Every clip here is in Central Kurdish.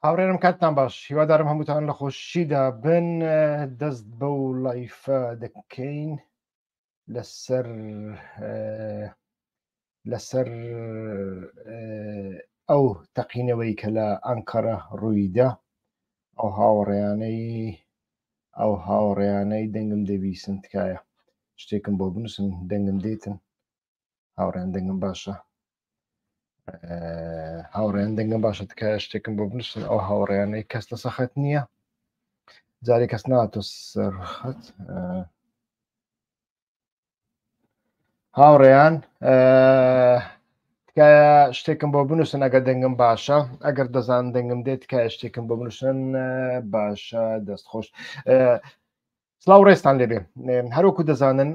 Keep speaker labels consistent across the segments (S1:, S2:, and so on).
S1: هاوڕێرم کاتتان باش هیوادارم هەمووتان لە خۆشیدا بن دەست بە و لایفە دەکەین لەسەر لەسەر ئەو تەقینەوەی کە لە ئەنکەرە ڕوویدا ئەو هاوڕێیانەی ئەو هاوڕێیانەی دەنگم دەبیسن تکایە شتێکم بۆ بنووسن دەنگم دێتن هاوڕێن دەنگم باشە هاوڕێن دەنگم باشە تکایە شتێکم بۆ بنووسن ئەو هاوڕێیانەی کەس لە سەخەت نییە جارێ کەس ناتۆ سەرخەت هاوڕێیان تکایە شتێکم بۆ بنووسن ئەگەر دەنگم باشە ئەگەر دەزان دەنگم دێت تکایە شتێکم بۆ بنووسن باشە دەست خۆش سلااو ڕێستان لێبێ هەروکو دەزانن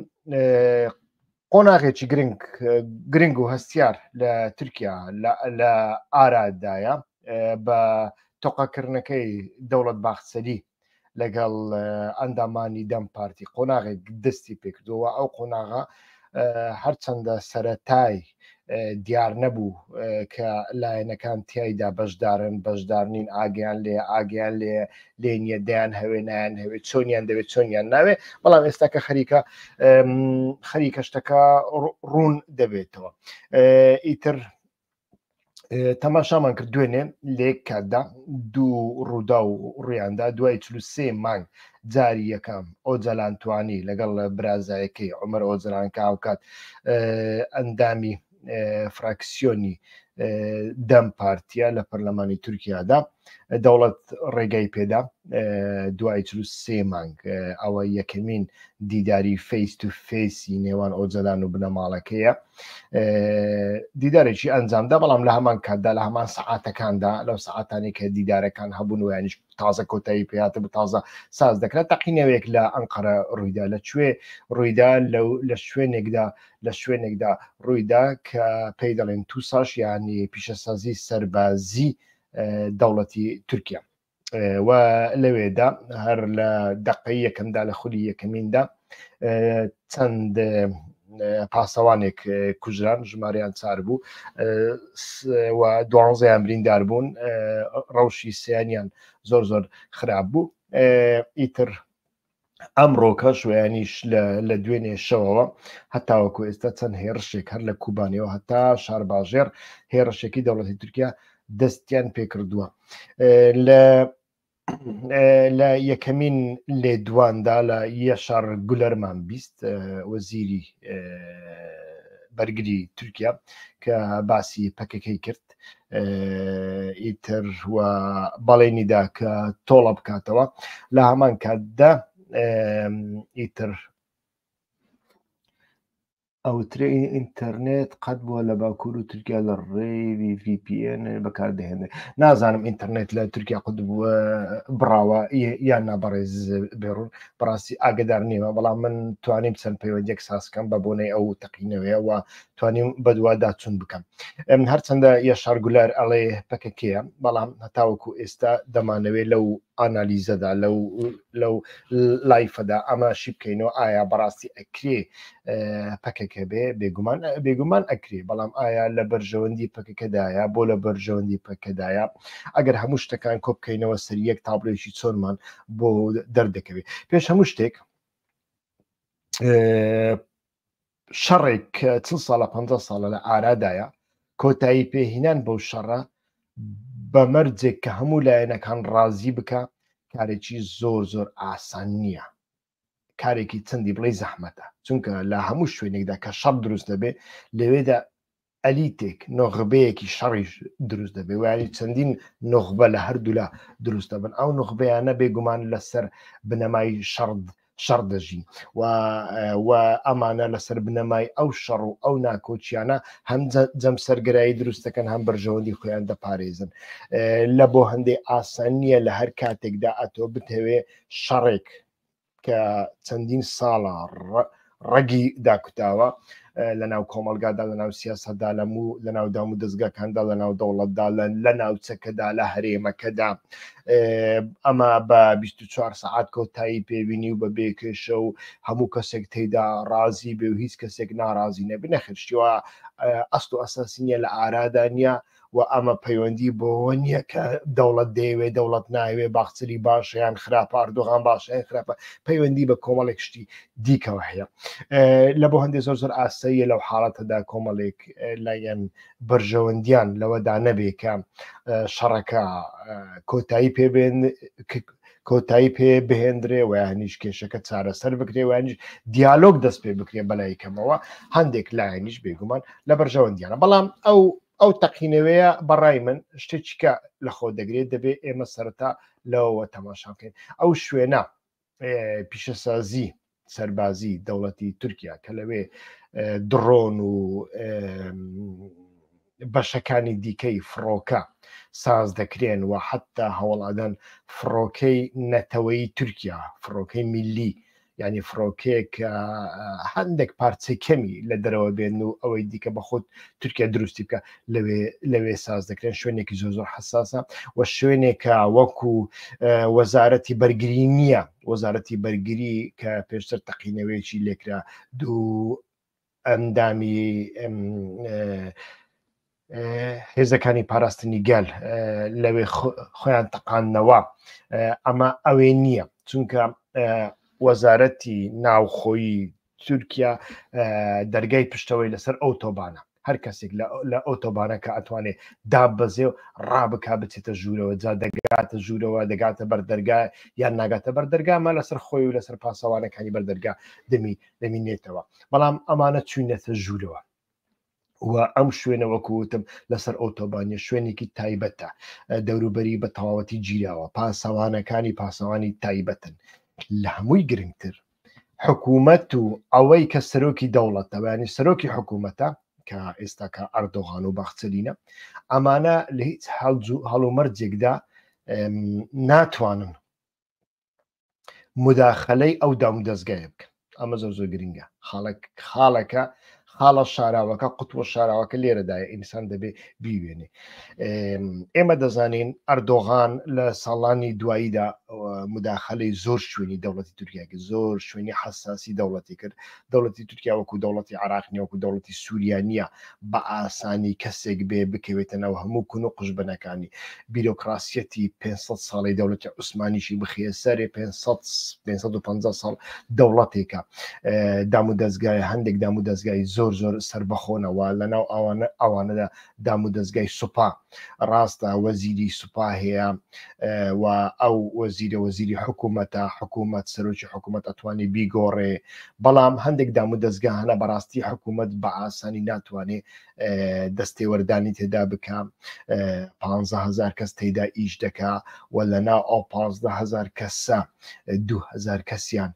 S1: قۆناغێکی گرنگ گرنگ و هەستیار لە تورکیا لە ئارادایە بە تۆقاکردنەکەی دەوڵەت باخسەری لەگەڵ ئەندامانی دەم پارتی قۆناغێک دەستی پێکردەوە ئەو قۆناغا هەرچەندە سەتای دیارنەبوو کە لایەنەکان تایدا بەشدارن بەشدارنین ئاگیان لێ ئاگیان لێ لێ نیە دەیان هەوێ نایەن هەوێت چۆنیان دەوێت چۆنیان ناوێ بەڵام ئێستا کە خەریکە خەریکە شتەکە ڕوون دەبێتەوە ئیتر تەماشامان کرد دوێنێ لێک کاتدا دوو ڕوودا و ڕویاندا دوای سێ مانگ جاری یەکەم ئۆجەلان توانی لەگەڵ برازایەکەی ئۆمەر ئۆجران کە هاوکات ئەندامی فراکسیۆنی دەم پارتیا لە پەرلەمانی تورکیادا دەوڵەت ڕێگای پێدا دوای چ سێ مانگ ئەوە یەکەمین دیداری فەیس تو فێسی نێوان ئۆجەلان و بنەماڵەکەیە دیدارێکی ئەنجامدا بەڵام لە هەمان کاتدا لە هەمان سعاتەکاندا لەو سعاتانی کە دیدارەکان هەبوون ویانش تازە کۆتایی پێاتە بە تازە ساز دەکرێت تەقینەوەیەک لە ئەنقەرە ڕوویدا لە کوێ ڕوویدا لە شوێنێکدا لە شوێنێکدا ڕوویدا کە پێی دەڵێن تووساش ینی پیشەسازی سەربازی دەوڵەتی تورکیا و لەوێدا هەر لە دقی یەکەمدا لە خولی یەکەمیندا چەند پاسەوانێک کوژران ژماریان چار بوو و دوانزەیان بریندار بوون ڕەوشی سیانیان زۆر زۆر خراپ بوو ئیتر ئەمڕۆکەش ویانیش لە دوێنێ شەوەوە هەتاوەکو ئێستا چەند هێرشێک هەر لە کوبانەوە هەتا شارباژێر هێرشێکی دەوڵەتی تورکیا دەستیان پێکردووە لە لە یەکەمین لێدواندا لە یەشار گولەرمان بیست وەزیری بەرگری تورکیا کە باسی پەکەکەی کرد ئیتر و بەڵێنیدا کە تۆڵە بکاتەوە لە هەمان کاتدا ئیتر ئەوترێ ئینتەرنێت قەت بووە لە باکوور و تورکیا لە ڕێوی VPN بەکاردەهێنێت نازانم ئینتەرنێت لە تورکیا قوت بووە بڕاوە یان نابڕێز بێڕون بڕاستی ئاگدار نیمە بەڵام من توانیم چەند پەیوەندێک ساسکەم بە بۆنەی ئەو تەقینەوەیەوە توانیم بەدوا داچون بکەم هەرچەندە یەشار گولار ئەڵێ پەکەکەیە بەڵام هەتاوەکو ئێستا دەمانەوێت لەو ئانالیزەدا لەو لەو لایفەدا ئەمە شی بکەینەوە ئایا بەڕاستی ئەکرێ پەکەکە بێ بێگومان بێگومان ئەکرێ بەڵام ئایا لە بەرژەوەندی پەکەکەدایە بۆ لە بەرژەوەندی پەکەدایە ئەگەر هەموو شتەکان کۆبکەینەوە سەر یەک تابلۆیشی چۆنمان بۆ دەردەکەوێت پێش هەموو شتێک شەڕێک کە چل ساڵە پ ساڵە لە ئارادایە کۆتایی پێهینان بەو شەڕە بە مەرجێک کە هەموو لایەنەکان ڕازی بکە کارێکی زۆر زۆر ئاسان نییە کارێکی چەندی بڵی زەحمەتە چونکە لە هەموو شوێنێکدا کە شەڕ دروست دەبێ لەوێدا ئەلیتێک، نوخبەیەکی شەڕیش دروست دەبێت و یانی چەندین نوخبە لە هەردوولا دروست دەبن، ئەو نوخبەیانە بێگومان لەسەر بنەمای شەڕد شەڕ دەژین و و ئەمانە لەسەر بنەمای ئەو شەڕ و ئەو ناکۆچیانە هەم جەمسەرگرایی دروستەکەن هەم بەرژەوەندی خۆیان دەپارێزن لە بۆ هەندێک ئاسان نییە لە هەر کاتێکدا ئەتۆ بتەوێ شەڕێک کە چەندین ساڵە ڕەگی داکوتاوە لە ناو کۆمەلگادا لە ناو سیاستدا لە و لە ناو دام و دەستگاکاندا لە ناو دەوڵەتدا لە ناوچەکەدا لە هەرێمەکەدا ئەمە بە 24 سعات کۆتایی پێبینی و بە بێکێشە و هەموو کەسێک تێدا ڕازی بێ و هیچ کەسێک ناڕازی نەبنەخشتیوە ئەست و ئەساسینە لە ئارادا نیە و ئەمە پەیوەندی بۆەوە نییە کە دەوڵەت دەیەوێ دەوڵەت ناوێ باخچری باشیان خراپ ئاردۆغان باشیان خراپە پەیوەندی بە کۆمەڵێک شتی دیکەوە هەیە لە بۆ هەندێک زۆر زۆر ئاساییە لەو حاڵەتەدا کۆمەڵێک لایەن بەرژەوەندیان لەوەدا نەبێکە شەڕەکە کۆتایی پێبێن کۆتایی پێ بهێندرێ و یانیش کێشەکە چارەسەر بکرێ وانیش دیالۆگ دەست پێ بکرێ بەلای کەمەوە هەندێک لایەنیش بێگومان لە بەرژەوەندیانە بەڵام ئەو ئەو تەقینەوەیە بەڕای من شتێکیکە لە خۆ دەگرێت دەبێ ئێمە سەرتا لەوەوە تەماشاکەین ئەو شوێنە پیشەسازی سەربازی دەوڵەتی تورکیا کە لەوێ دڕۆن و بەشەکانی دیکەی فڕۆکە ساز دەکرێن و حتا هەوڵادەن فڕۆکەی نەتەوەی تورکیا فڕۆکەی میلی ینی فڕۆکێک هەندێک پارچەی کەمی لە دەرەوە بێن و ئەوەی دیکە بەخۆت تورکیا دروستی بکە لەوێ لەوێ ساز دەکرێن شوێنێکی زۆ زۆر حساسە و شوێنێکە وەکو وەزارەتی بەرگری نییە وەزارەتی بەرگری کە پێشتر تەقینەوەیەکی لێکرا دوو ئەندامی هێزەکانی پاراستنی گەل لەوێ خۆیان تەقاندنەوە ئەمە ئەوێ نییە چونکە وەزارەتی ناوخۆیی تورکیا دەرگای پشتەوەی لەسەر ئەو تۆبانە هەر کەسێک لە ئەو تۆبانە کە ئەتوانێت دابەزێ و ڕابک بچێتە ژوورەوە جا دەگاتە ژوورەوە دەگاتە بەردەرگا یان ناگاتە بەردەرگامە لەسەر خۆی و لەسەر پاسەوانەکانی بەردەرگا دەمی دەمینێتەوە بەڵام ئەمانە چوینەتە ژوورەوە و ئەم شوێنە وەکووتم لەسەر ئۆتۆبانیە شوێنێکی تایبەتە دەوروبەری بە تەواوەتی گیراوە پاسەوانەکانی پاسەوانی تایبەتن لە هەمووی گرنگتر حکوومەت و ئەوەی کە سەرۆکی دەوڵەتەوەیانی سەرۆکی حکوومەتە کە ئێستاکە ئەردۆغان و بەخچەلینە ئەمانە لە هیچ هەڵمەرجێکدا ناتوانن مداخلەی ئەو دام دەستگایە بکەن ئەمە زۆر زۆر گرنگە خاڵک خاڵەکە خاڵە شاراوەکە قوتوە شاراوەکە لێرەدایە ئینسان دەبێ بیوێنێ ئێمە دەزانین ئەردۆغان لە ساڵانی دواییدا مداخلەی زۆر شوێنی دەوڵەتی تورکیاکە زۆر شوێنی حساسی دەوڵەتی کرد دەوڵەتی تورکیا وەکو دەوڵەتی عێراق نیە وەکو دەوڵەتی سوریا نیە بە ئاسانی کەسێک بێ بکەوێتە ناو هەموو کون و قژبەنەکانی بیرۆکڕاسیەتی پێنج سەد ساڵەی دەوڵەتی عوسمانیشی بخیە سەرێ پێنج سەد پێنج سەد و پەنجا ساڵ دەوڵەتێکە دام و دەزگایە هەندێک دام و دەزگای زۆر زۆر سربەخۆنەوە لە ناو ئەوانە ئەوانەدا دام و دەزگای سوپا ڕاستە وەزیری سوپا هەیە و ئەو وەزیرە وەزیری حکوومەتە حکوومەت سەرۆکی حکوومەت ئەتوانێ بیگۆڕێ بەڵام هەندێک دام و دەستگا هەنە بەڕاستی حکوومەت بە ئاسانی ناتوانێ دەستێوەردانی تێدا بکە پهزار کەس تێدا ئیش دەکا و لەنا ئەو پهزار کەسە دوهەزار کەسیان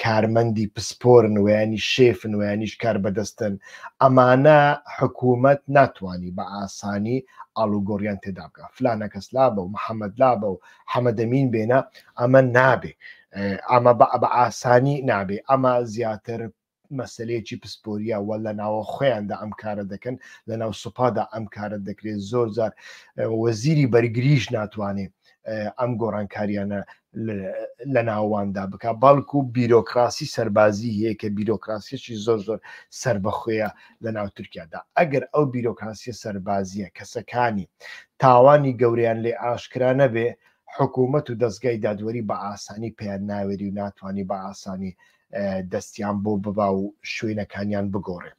S1: کارمەندی پسپۆرن ویانی شێفن ویانیش کار بەدەستن ئەمانە حکوومەت ناتوانانی بە ئاسانی ئالوگۆریان تێدابگە فلانە کەس لابە و محەممەد لابە و حەمەدەمین بێنە ئەمە نابێ ئەمە بە بە ئاسانی نابێ ئەمە زیاتر مەسەلەیەکی پسپۆریە وە لە ناوە خۆیاندا ئەم کارە دەکەن لە ناو سوپادا ئەم کارە دەکرێت زۆر زار وەزیری بەرگریش ناتوانێت ئەم گۆڕانکاریانە لە ناواندا بک بەڵکو بیرۆکراسی سەربازی هەیە کە بیرۆکراسیەکی زۆر زۆر سەر بەخۆیە لە ناو تورکیادا ئەگەر ئەو بیرۆکراسی سەربازیە کەسەکانی تاوانی گەوریان لێ ئاشکرا نەبێ حکوومەت و دەستگای دادوەری بە ئاسانی پێیان ناوێری و ناتوانانی بە ئاسانی دەستیان بۆ ببا و شوێنەکانیان بگۆڕێ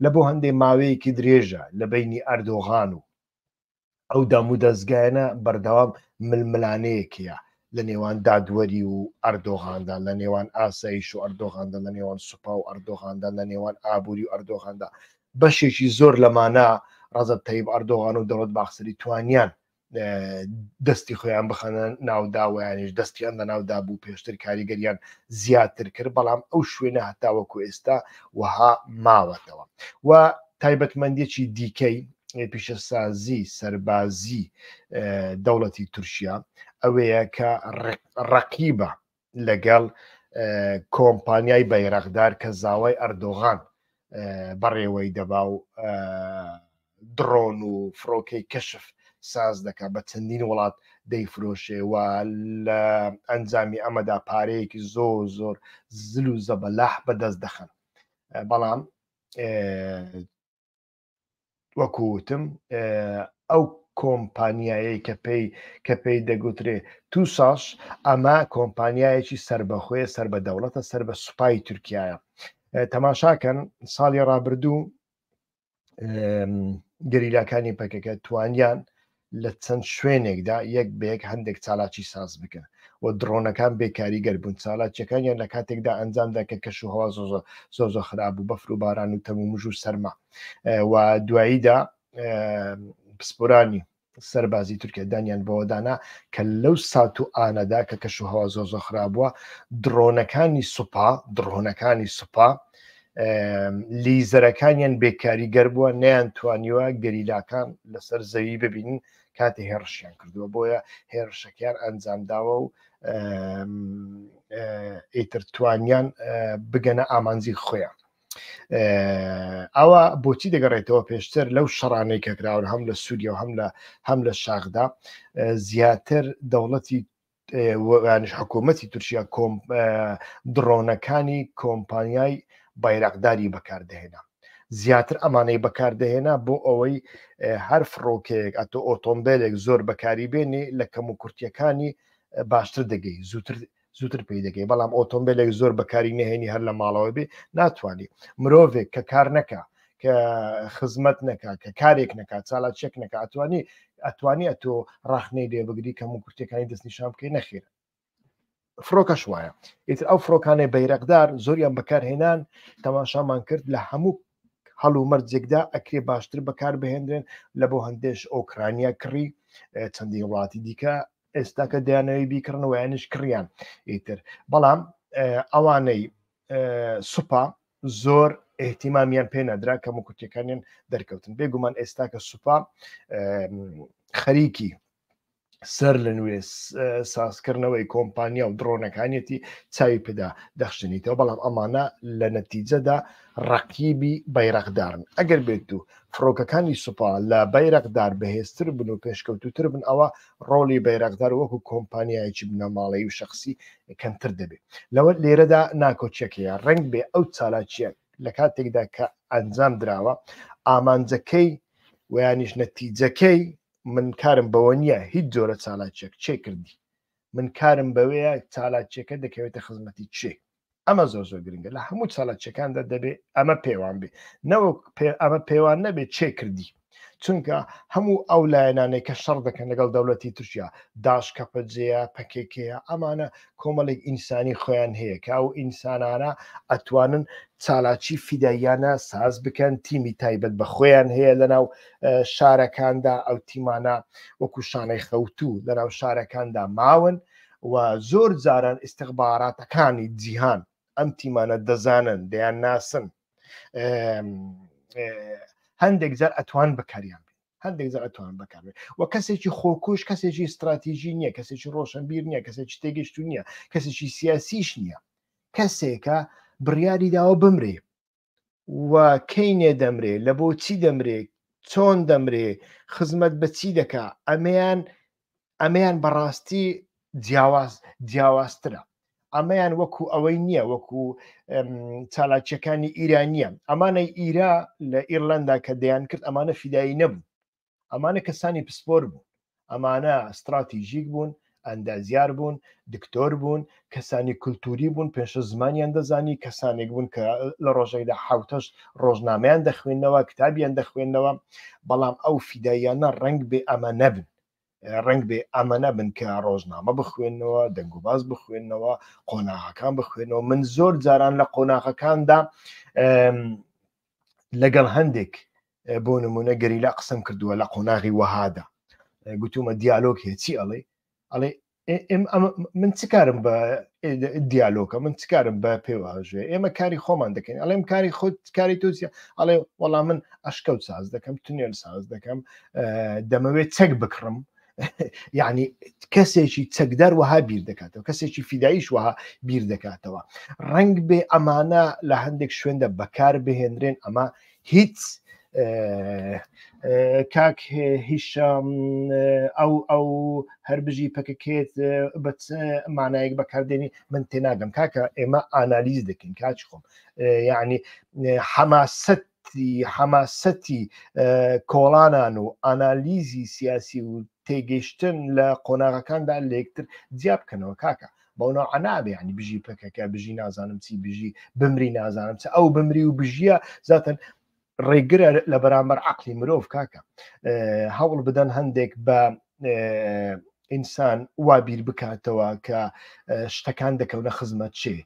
S1: لە بۆ هەندێ ماوەیەکی درێژە لە بینی ئەردۆغان و ئەو دام و دەستگایەنە بەردەوام ململانەیەکەیە لە نێوان دادوەری و ئەردۆغاندا لە نێوان ئاسایش و ئەردۆغاندا لە نێوان سوپا و ئەردۆغاندا لە نێوان ئابووری و ئەردۆغاندا بەشێکی زۆر لەمانە ڕزب تەیب ئەردۆغان و دەوڵەت باخسری توانیان دەستی خۆیان بخەنە ناودا ویانش دەستیان لە ناودا بوو پێشتر کاریگەریان زیاتر کرد بەڵام ئەو شوێنە هەتاوەکو ئێستا وەها ماوەتەوە و تایبەتمەندێکی دیکەی پیشەسازی سەربازی دەوڵەتی تورکیا ئەوەیە کە ڕقیبە لەگەڵ کۆمپانیای بەیرەقدار کە زاوای ئەردۆغان بەڕێوەی دەبا و دڕۆن و فڕۆکەی کەشف ساز دەکە بە چەندین وڵات دەیفرۆشێ و لە ئەنجامی ئەمەدا پارەیەکی زۆر زۆر زل و زەبەلاح بەدەست دەخن بەڵام وەکو وتم ئەو کۆمپانیایەی کە پێی کە پێی دەگوترێ تو ساس ئەمە کۆمپانیایەکی سربەخۆیە سەر بە دەوڵەتە سەر بە سوپای تورکایە تەماشاکەن ساڵی ڕابردوو گەریلاکانی پەکەکە توانیان لە چەند شوێنێکدا یەک بەیەک هەندێک چالاکی ساز بکەن و دڕۆنەکان بێکاریگەر بوون چالاکیەکانیان لە کاتێکدا ئەنجامدا کە کەش و هەوا زۆ زۆ زۆ خراپ بوو بەفر و باران و تەمومژ و سەرما و دواییدا پسپۆرانی سەربازی تورکیا دانیان بەوەدانا کە لەو سات و ئانەدا کە کەش و هەوا زۆ زۆ خرابووە دڕۆنەکانی سوپا دڕۆنەکانی سوپا لیزەرەکانیان بێکاری گەربووە نیان توانیوە گەریلاکان لەسەر زەوی ببینن کاتی هێڕشیان کردووە بۆیە هێرشەکەیان ئەنجامداوە و ئیتر توانیان بگەنە ئامانزی خۆیان ئەوە بۆچی دەگەڕێتەوە پێشتر لەو شەڕانەی کەکراون هەم لە سووریە و هەم لە هەم لە شاخدا زیاتر دەوڵەتی وانش حکوومەتی تورکیا کۆم دڕۆنەکانی کۆمپانیای بایراقداری بەکاردەهێنا زیاتر ئەمانەی بەکاردەهێنا بۆ ئەوەی هەر فڕۆکەیەک ئەتۆ ئۆتۆمبیلێک زۆر بەکاری بێنێ لە کەم و کورتیەکانی باشتر دەگەی زووتر زووتر پێی دەگەی بەڵام ئۆتۆمبیلێک زۆر بەکاری نهێنی هەر لە ماڵەوە بێ ناتوانانی مرۆڤێک کە کار نەکە کە خزمەت نەکات کە کارێک نەکات چالاچێک نەکە ئەتوانی ئەتوانی ئەتۆ ڕاخنەی لێ بگری کەم و کورتەکانی دەستنیشان بکەی نەخێر فرۆکەش وایە ئیتر ئەو فرۆکانەی بەیرەقدار زۆریان بەکارهێنان تەماشامان کرد لە هەموو هەڵ و مەرجێکدا ئەکرێ باشتر بەکار بهێنرێن لە بۆ هەندێش ئۆکرانیا کڕی چەندی وڵاتی دیکە ئێستاکە دەیانەوەی بیکردنەوەیانش کڕیان ئیتر بەڵام ئەوانەی سوپا زۆر ئیهتیمامیان پێ نەدرا کەم و کورتەکانیان دەرکەوتن بێگومان ئێستا کە سوپا خەریکی سەر لە نوێ سازکردنەوەی کۆمپانیا و دڕۆنەکانیەتی چاوی پێدا دەخشنیتەوە بەڵام ئەمانە لە نەتیجەدا ڕقیبی بەیرەقدارن ئەگەر بێت و فڕۆکەکانی سوپا لە بەیرەقدار بەهێزتر بن و پێشکەوتوتر بن ئەوە ڕۆڵی بەیرەقدار وەکو کۆمپانیایەکی بنەماڵەیی و شخصی کەمتر دەبێت لەوە لێرەدا ناکۆکیەکەیە ڕنگ بێ ئەو چالاکیە لە کاتێکدا کە ئەنجام دراوە ئامانجەکەی ویانیش نەتیجەکەی من کارم بەوە نییە هیچ جۆرە چالاکیەک چێ کردی من کارم بەوەیە چالاکیەکە دەکەوێتە خزمەتی چێ ئەمە زۆر زۆر گرنگە لە هەموو چالاکیەکاندا دەبێت ئەمە پێوان بێ نەوەک ئەمە پێوان نەبێت چێ کردی چونکە هەموو ئەو لایەنانێک کە شەڕ دەکەن لەگەڵ دەوڵەتی تورکیا داش کەپەجەیە پەکێکەیە ئەمانە کۆمەڵێک ئینسانی خۆیان هەیە کە ئەو ئینسانانە ئەتوانن چالاکی فیداییانە ساز بکەن تیمی تایبەت بە خۆیان هەیە لەناو شارەکاندا ئەو تیمانە وەکو شانەی خەوتو لەناو شارەکاندا ماون و زۆر جاران ئیسیخباراتەکانی جیهان ئەم تیمانە دەزانن دەیان ناسن هەندێک جار ئەتوان بکاریان هەندێک جار ئەتوان بکار و کەسێکی خۆکوش کەسێکی استراتیژی نییە کەسێکی ڕۆشنبیر نییە کەسێکی تێگەشت نییە کەسێکی سیاسیش نییە کەسێکە بڕیاری داوە بمرێ و کەینێ دەمرێ لە بۆ چی دەمرێ چۆن دەمرێ خزمەت بە چی دەکا ئەمەیان ئەمەیان بەڕاستی جیاواز جیاوازترە ئەمەیان وەکو ئەوەی نییە وەکو چالاکیەکانی ئیرانیە ئەمانەی ئیرا لە ئیرلندا کە دەیان کرد ئەمانە فیدایی نەبوو ئەمانە کەسانی پسپۆر بوون ئەمانە ستراتیژیک بوون ئەندازیار بوون دکتۆر بوون کەسانی کولتوری بوون پێشە زمانیان دەزانی کەسانێک بوون کە لە ڕۆژێکدا حوتەش ڕۆژنامەیان دەخوێندنەوە کتابیان دەخوێندنەوە بەڵام ئەو فیدایانە ڕنگ بێ ئەمە نەبن ڕنگ بێ ئەمە نەبن کە ڕۆژنامە بخوێندنەوە دەنگوباز بخوێندنەوە قۆناغەکان بخوێنەوە من زۆر جاران لە قۆناغەکاندا لەگەڵ هەندێک بۆ نمونە گەریلا قسم کردووە لە قۆناغی وەهادا گوتومە دیالۆک هەیە چی ئەڵێ ئەڵێ من چ کارم بە دیالۆکە من چ کارم بە پێواژێ ئێمە کاری خۆمان دەکەین ئەڵێم کاری خۆت کاری تۆزیە ئەڵێ وەڵام من ئەشکەوت ساز دەکەم تونێل ساز دەکەم دەمەوێت چەک بکڕم یعنی کەسێکی چەکدار وەها بیر دەکاتەوە کەسێکی فیدایش وەها بیر دەکاتەوە ڕنگ بێ ئەمانە لە هەندێک شوێندە بەکار بهێنرێن ئەمە هیچ کاک هیشم ئەو ئەو هەر بژی پککێت بە مانایەک بەکاردێنی من تێناگەم کاکە ئێمە ئانالیز دەکەین کاچ خۆم یعنی حەماست حەماسەتی کۆڵانان و ئانالیزی سیاسی و تێگەشتن لە قۆناغەکاندا لەکتر جیا بکەنەوە کاکە بەونە عەنابێ ینی بژی پکەکە بژی نازانم چی بژی بمری نازانم چ ئەو بمری و بژیە زاتن ڕێگرە لە بەرامبەر عقلی مرۆڤ کاکە هەوڵ بدەن هەندێک بە ئینسان وا بیر بکاتەوە کە شتەکان دەکەونە خزمەت چێ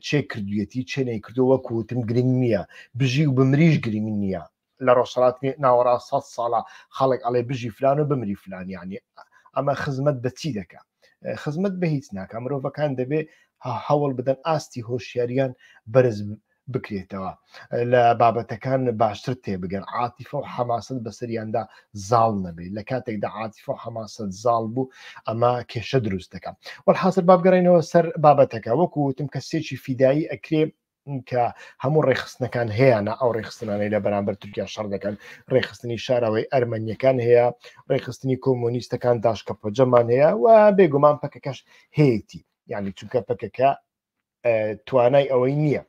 S1: چێ کردویەتی چێ نەیکردو وەکو وتم گرنگ نییە بژی و بمریش گرنگ نییە لە ڕۆژهەڵات ناوەڕاست سە ساڵە خەڵک ئەڵێ بژی فلان و بمری فلان یعنی ئەمە خزمەت بە چی دەکە خزمەت بە هیچ ناکە مرۆڤەکان دەبێ هەوڵ بدەن ئاستی هۆشیاریان بەرز بکرێتەوە لە بابەتەکان باشتر تێبگەن عاتیفە و حەماسن بەسەریاندا زاڵ نەبێت لە کاتێکدا عاتیفە و حەماسەت زاڵ بوو ئەمە کێشە دروست دەکەم وەحاصر بابگەڕینەوە سەر بابەتەکە وەکو وتم کەسێکی فیدایی ئەکرێ کە هەموو ڕێخستنەکان هەیەە ئەو ڕێخستنانەی لە بەرامبەر تورکیا شەڕ دەکەن ڕێخستنی شارەوەی ئەرمەنیەکان هەیە ڕێخستنی کۆمۆنیستەکان داشکە پۆجەمان هەیە و بێگومان پەکەکەش هەیەی یعنی چونکە پەکەکە توانای ئەوەی نییە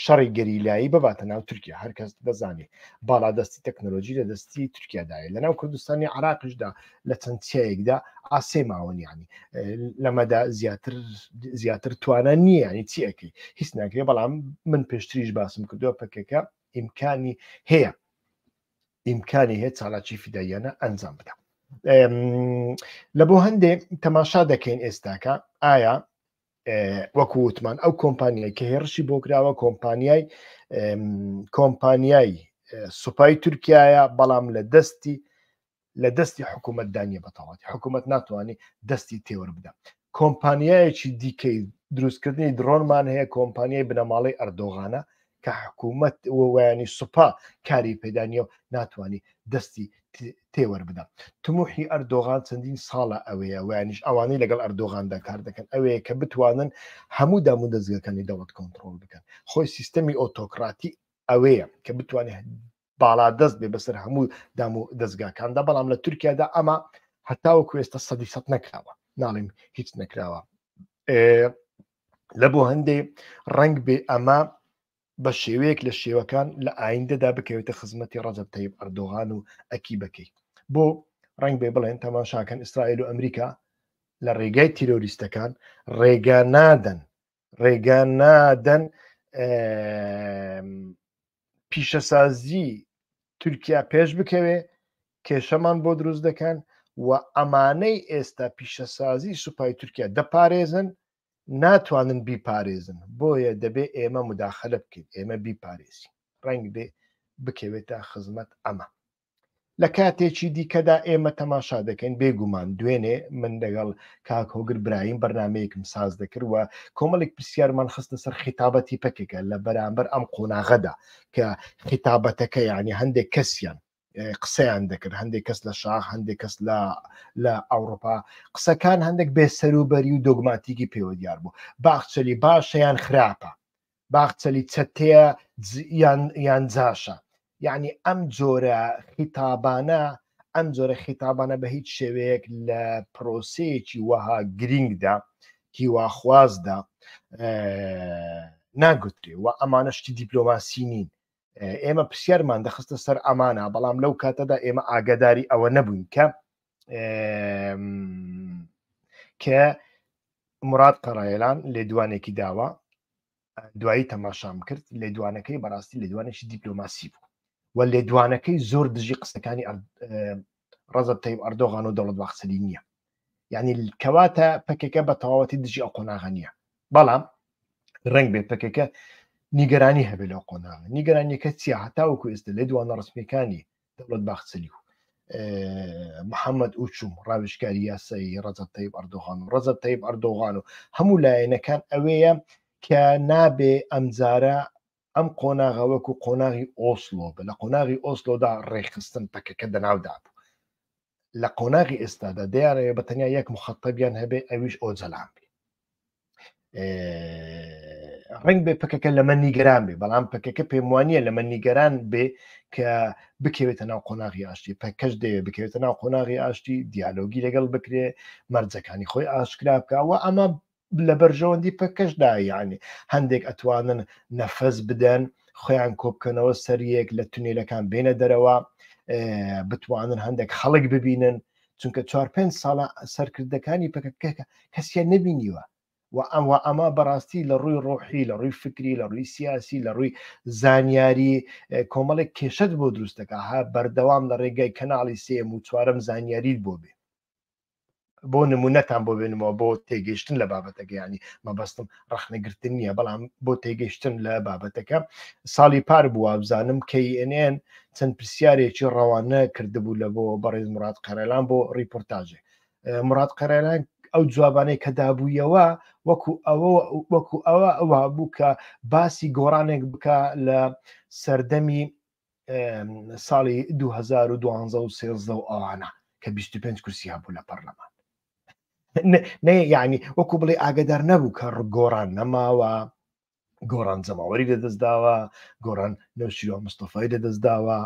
S1: شەڕی گەریلایی بباتە ناو تورکیا هەرکەس دەزانێت باڵادەستی تەکنۆلۆژی لە دەستی تورکیادایە لە ناو کوردستانی عراقشدا لە چەند چیایەکدا ئاسێ ماوەنیانی لەمەدا زیاتر زیاتر توانە نییە ینی چیەکەی هیچ ناکرێ بەڵام من پێشتریش باسم کردووە پکەکە ئیمکانی هەیە ئیمکانی هەیە چالاکی فیداییانە ئەنجام بدە لە بۆ هەندێک تەماشا دەکەین ئێستاکە ئایا وەکو وتمان ئەو کۆمپانیای کە هێڕشی بۆ کراوە کۆمپانیای کۆمپانیای سوپای تورکایە بەڵام لە دەستی لە دەستی حکوومەت دانیە بەتەواتی حکوومەت ناتوانانی دەستی تێوەر بدە کۆمپانیایەکی دیکەی دروستکردنی درۆنمان هەیە کۆمپانیای بنەماڵی ئەردۆغانە کە حکوومەت وەیانی سوپا کاری پێدانە و ناتوانانی دەستی تێوەەر بدەم تموحی ئەردۆغان چەندین ساڵە ئەوەیە ویانیش ئەوانەی لەگەڵ ئەردۆغاندا کار دەکەن ئەوەیە کە بتوانن هەموو دام و دەستگەکانی دەوڵەت کۆنتترۆل بکەن خۆی سیستەمی ئۆتۆکراتی ئەوەیە کە بتوانێت باڵا دەست بێ بەسەر هەموو دام و دەستگاکاندا بەڵام لە تورکیادا ئەمە هەتاوە کوێستە سەدی سەد نەکراوە ناڵیم هیچ نەکراوە لە بۆ هەندێ ڕنگ بێ ئەمە بە شێوەیەک لە شێوەکان لە ئایندەدا بکەوێتە خزمەتی ڕەجب تەیب ئەردۆغان و ئەکی بەکەی بۆ ڕنگ بێ بڵێن تەماشاکەن ئیسرائیل و ئەمریکا لە ڕێگای تیرۆریستەکان ڕێگا نادەن ڕێگە نادەن پیشەسازی تورکیا پێش بکەوێ کێشەمان بۆ دروست دەکەن و ئەمانەی ئێستا پیشەسازی سوپای تورکیا دەپارێزن ناتوانن بیپارێزن بۆیە دەبێ ئێمە مداخلە بکەین ئێمە بیپارێزی ڕنگ بێ بکەوێتە خزمەت ئەمە لە کاتێکی دیکەدا ئێمە تەماشا دەکەین بێگومان دوێنێ من دەگەڵ کاک هۆگر برایم بەرنمەیەکم ساز دەکردوە کۆمەڵێک پرسیارمان خستە سەر خیتابەتی پەکەکە لە بەرامبەر ئەم قۆناغەدا کە خیتابەتەکە یعنی هەندێک کەسیان قسەیان دەکرد هەندێک کەس لە شاخ هەندێک کەس لە لە ئەوروپا قسەکان هەندێک بێسەروبەری و دۆگماتیکی پێوە دیار بوو باخچەلی باشەیان خراپە باخچەلی چەتەیە یان جاشە یعنی ئەم جۆرە خیتابانە ئەم جۆرە خیتابانە بە هیچ شێوەیەک لە پرۆسەیەکی وەها گرینگدا هیواخوازدا ناگوترێ و ئەمانە شتی دیپلۆماسی نین ئێمە پرسیارمان دەخستە سەر ئەمانە بەڵام لەو کاتەدا ئێمە ئاگداری ئەوە نەبووین کە کە مراد قەڕایلان لێدوانێکی داوە دوایی تەماشام کرد لێدوانەکەی بەڕاستی لێدوانێکی دیپلۆماسی بوو و لێدوانەکەی زۆر دژی قسەکانی ڕزب تەیب ئەردۆغان و دەوڵەت باخسەری نییە یعنی کەواتە پکەکە بە تەواوەتی دژی ئەو قۆناغە نییە بەڵام ڕنگ بێ پکەکە نیگەرانی هەبێت لەو قۆناغ نیگەرانیەکە چیە هەتاوەکو ئێستا لێ دوانە ڕسمەکانی دەوڵەت باخچەلی و محەممەد ئوچوم ڕاوشکاری یاسایی ڕەزب تەیب ئەردۆغان و ڕەزب تەیب ئەردۆغان و هەموو لایەنەکان ئەوەیە کە نابێ ئەمجارە ئەم قۆناغە وەکو قۆناغی ئۆسلۆ بە لە قۆناغی ئۆسلۆدا ڕێخستن پەکەکە دەناودا بوو لە قۆناغی ئێستادا دیارەیە بە تەنیا یەک مخەتەبیان هەبێ ئەویش ئۆجەلان بێ ڕنگ بێ پکەکە لەمە نیگەران بێ بەڵام پکەکە پێم وانە لەمە نیگەران بێ کە بکەوێتە ناو قۆناغی ئاشتی پکەش دەیە بکەوێتە ناو قۆناغی ئاشتی دیالۆگی لەگەڵ بکرێ مەرجەکانی خۆی ئاشکرا بکەوە ئەمە لە بەرژەوەندی پەکەشدا یعنی هەندێک ئەتوانن نەفەس بدەن خۆیان کۆبکەنەوە سەریەک لە تونێلەکان بینە دەرەوە بتوانن هەندێک خەڵک ببینن چونکە چوار پێ ساڵە سەرکردەکانی پکەکەکە کەسیان نبینیوە و ئەم و ئەمە بەڕاستی لە ڕووی ڕۆحی لە ڕووی فکری لە ڕووی سیاسی لە ڕووی زانیاری کۆمەڵێک کێشت بۆ دروستەکە ها بەردەوام لە ڕێگای کەناڵی سێم و چوارم زانیاریت بۆ بێ بۆ نمونەتان بۆ بێنمەوە بۆ تێگەیشتن لە بابەتەکە ینی مەبەستم ڕخنەگرتن نییە بەڵام بۆ تێگەیشتن لە بابەتەکە ساڵی پار بووە بزانم KNN چەند پرسیارێکی ڕەوانە کردبوو لە بۆ بەڕێز مراد قەرەلان بۆ ڕیپۆرتاژێ مراد قەرەلان ئەو جوابانەی کە دابوویەوە وەکو ئەوە وەکو ئەوە ئەوە بوو کە باسی گۆڕانێک بکە لە سەردەمی ساڵی 2012 و سێزدە و ئەوانە کە 25 کورسیا بوو لە پەرلەمان نێ یعنی وەکو بڵێ ئاگدار نەبوو کە ڕگۆڕان نەماوە گۆڕان جەماوەری لەدەستداوە گۆڕان نەوشیوە مستەفای لەدەستداوە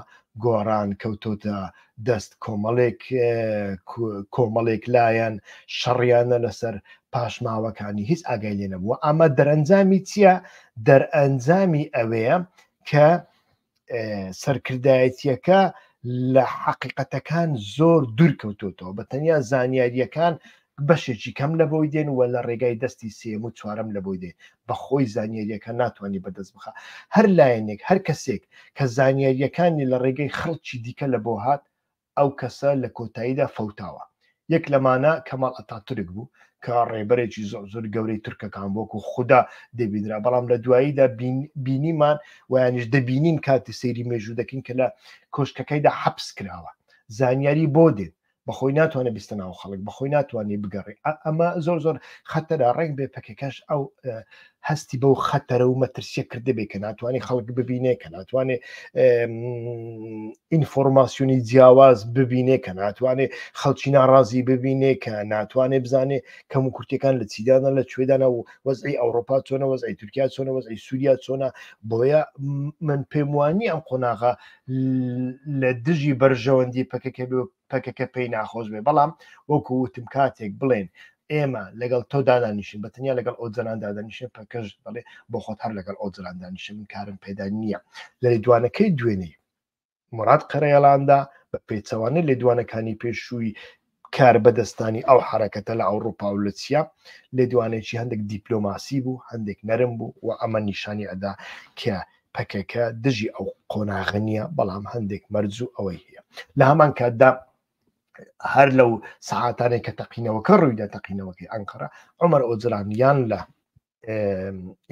S1: گۆڕان کەوتۆتە دەست کۆمەڵێک کۆمەڵێک لایەن شەڕیانە لەسەر پاشماوەکانی هیچ ئاگای لێ نەبووە ئەمە دەرەنجامی چییە دەرئەنجامی ئەوەیە کە سەرکردایەتیەکە لە حقیقەتەکان زۆر دوور کەوتوتەوە بە تەنیا زانیاریەکان بەشێکی کەم لە بۆی دێن وە لە ڕێگای دەستی سێم و چوارم لە بۆی دێن بە خۆی زانیاریەکە ناتوانانی بەدەست بخە هەر لایەنێک هەر کەسێک کە زانیاریەکانی لە ڕێگەی خەڵکی دیکە لە بۆ هات ئەو کەسە لە کۆتاییدا فەوتاوە. یەک لەمانە کەماڵ ئەتاتورک بوو، کە ڕێبەرێکی زۆر زۆر گەورەی تورکەکان بوو، وەکوو خودا دەبینرا، بەڵام لە دواییدا بینیمان و یانیش دەبینین کاتێ سەیری مێژوو دەکەین کە لە کۆشکەکەیدا حەپس کراوە. زانیاری بۆ دێت؟ بە خۆی ناتوانێ بستە ناو خەڵک، بە خۆی ناتوانێ بگەڕێ. ئەمە زۆر زۆر خەتەرە، ڕێک بێ پەکەکەش ئەو هەستی بەو خەتەرە و مەترسیە کردبێ کە ناتوانانی خەڵک ببینێ کە ناتوانێ ئینفۆرماسیۆنی جیاواز ببینێ کە ناتوانێ خەڵکی ناڕازی ببینێ کە ناتوانێ بزانێ کەم و کورتەکان لە چیدانە لە کوێدانە و وەزعی ئەوروپا چۆنە وەزعی تورکیا چۆنە وەزعی سووریا چۆنە بۆیە من پێم وانی ئەم قۆناغا لە دژی بەرژەوەندی پەکەکە پەکەکە پێی ناخۆش بێ بەڵام وەکو وتم کاتێک بڵێن ئێمە لەگەڵ تۆ دادانیشن بە تەنیا لەگەڵ ئەو جەنان دادانیشن پەکەش دەڵێ بۆ خۆت هەر لەگەڵ ئەو جەنان دانیشە من کارم پێدا نییە لە لێدوانەکەی دوێنێ مراد قەرەیەڵاندا بە پێچەوانە لێدوانەکانی پێشووی کار بەدەستانی ئەو حرەکەتە لە ئەوروپا و لە چیا لێدوانێکی هەندێک دیپلۆماسی بوو هەندێک نەرم بوو و ئەمە نیشانی ئەدا کە پەکەکە دژی ئەو قۆناغە نییە بەڵام هەندێک مەرج و ئەوەی هەیە لە هەمان کاتدا هەر لەو سعاتانێک کە تەقینەوەکە ڕووی لە تەقینەوەکەی ئەنقەرە عمر ئۆجران یان لە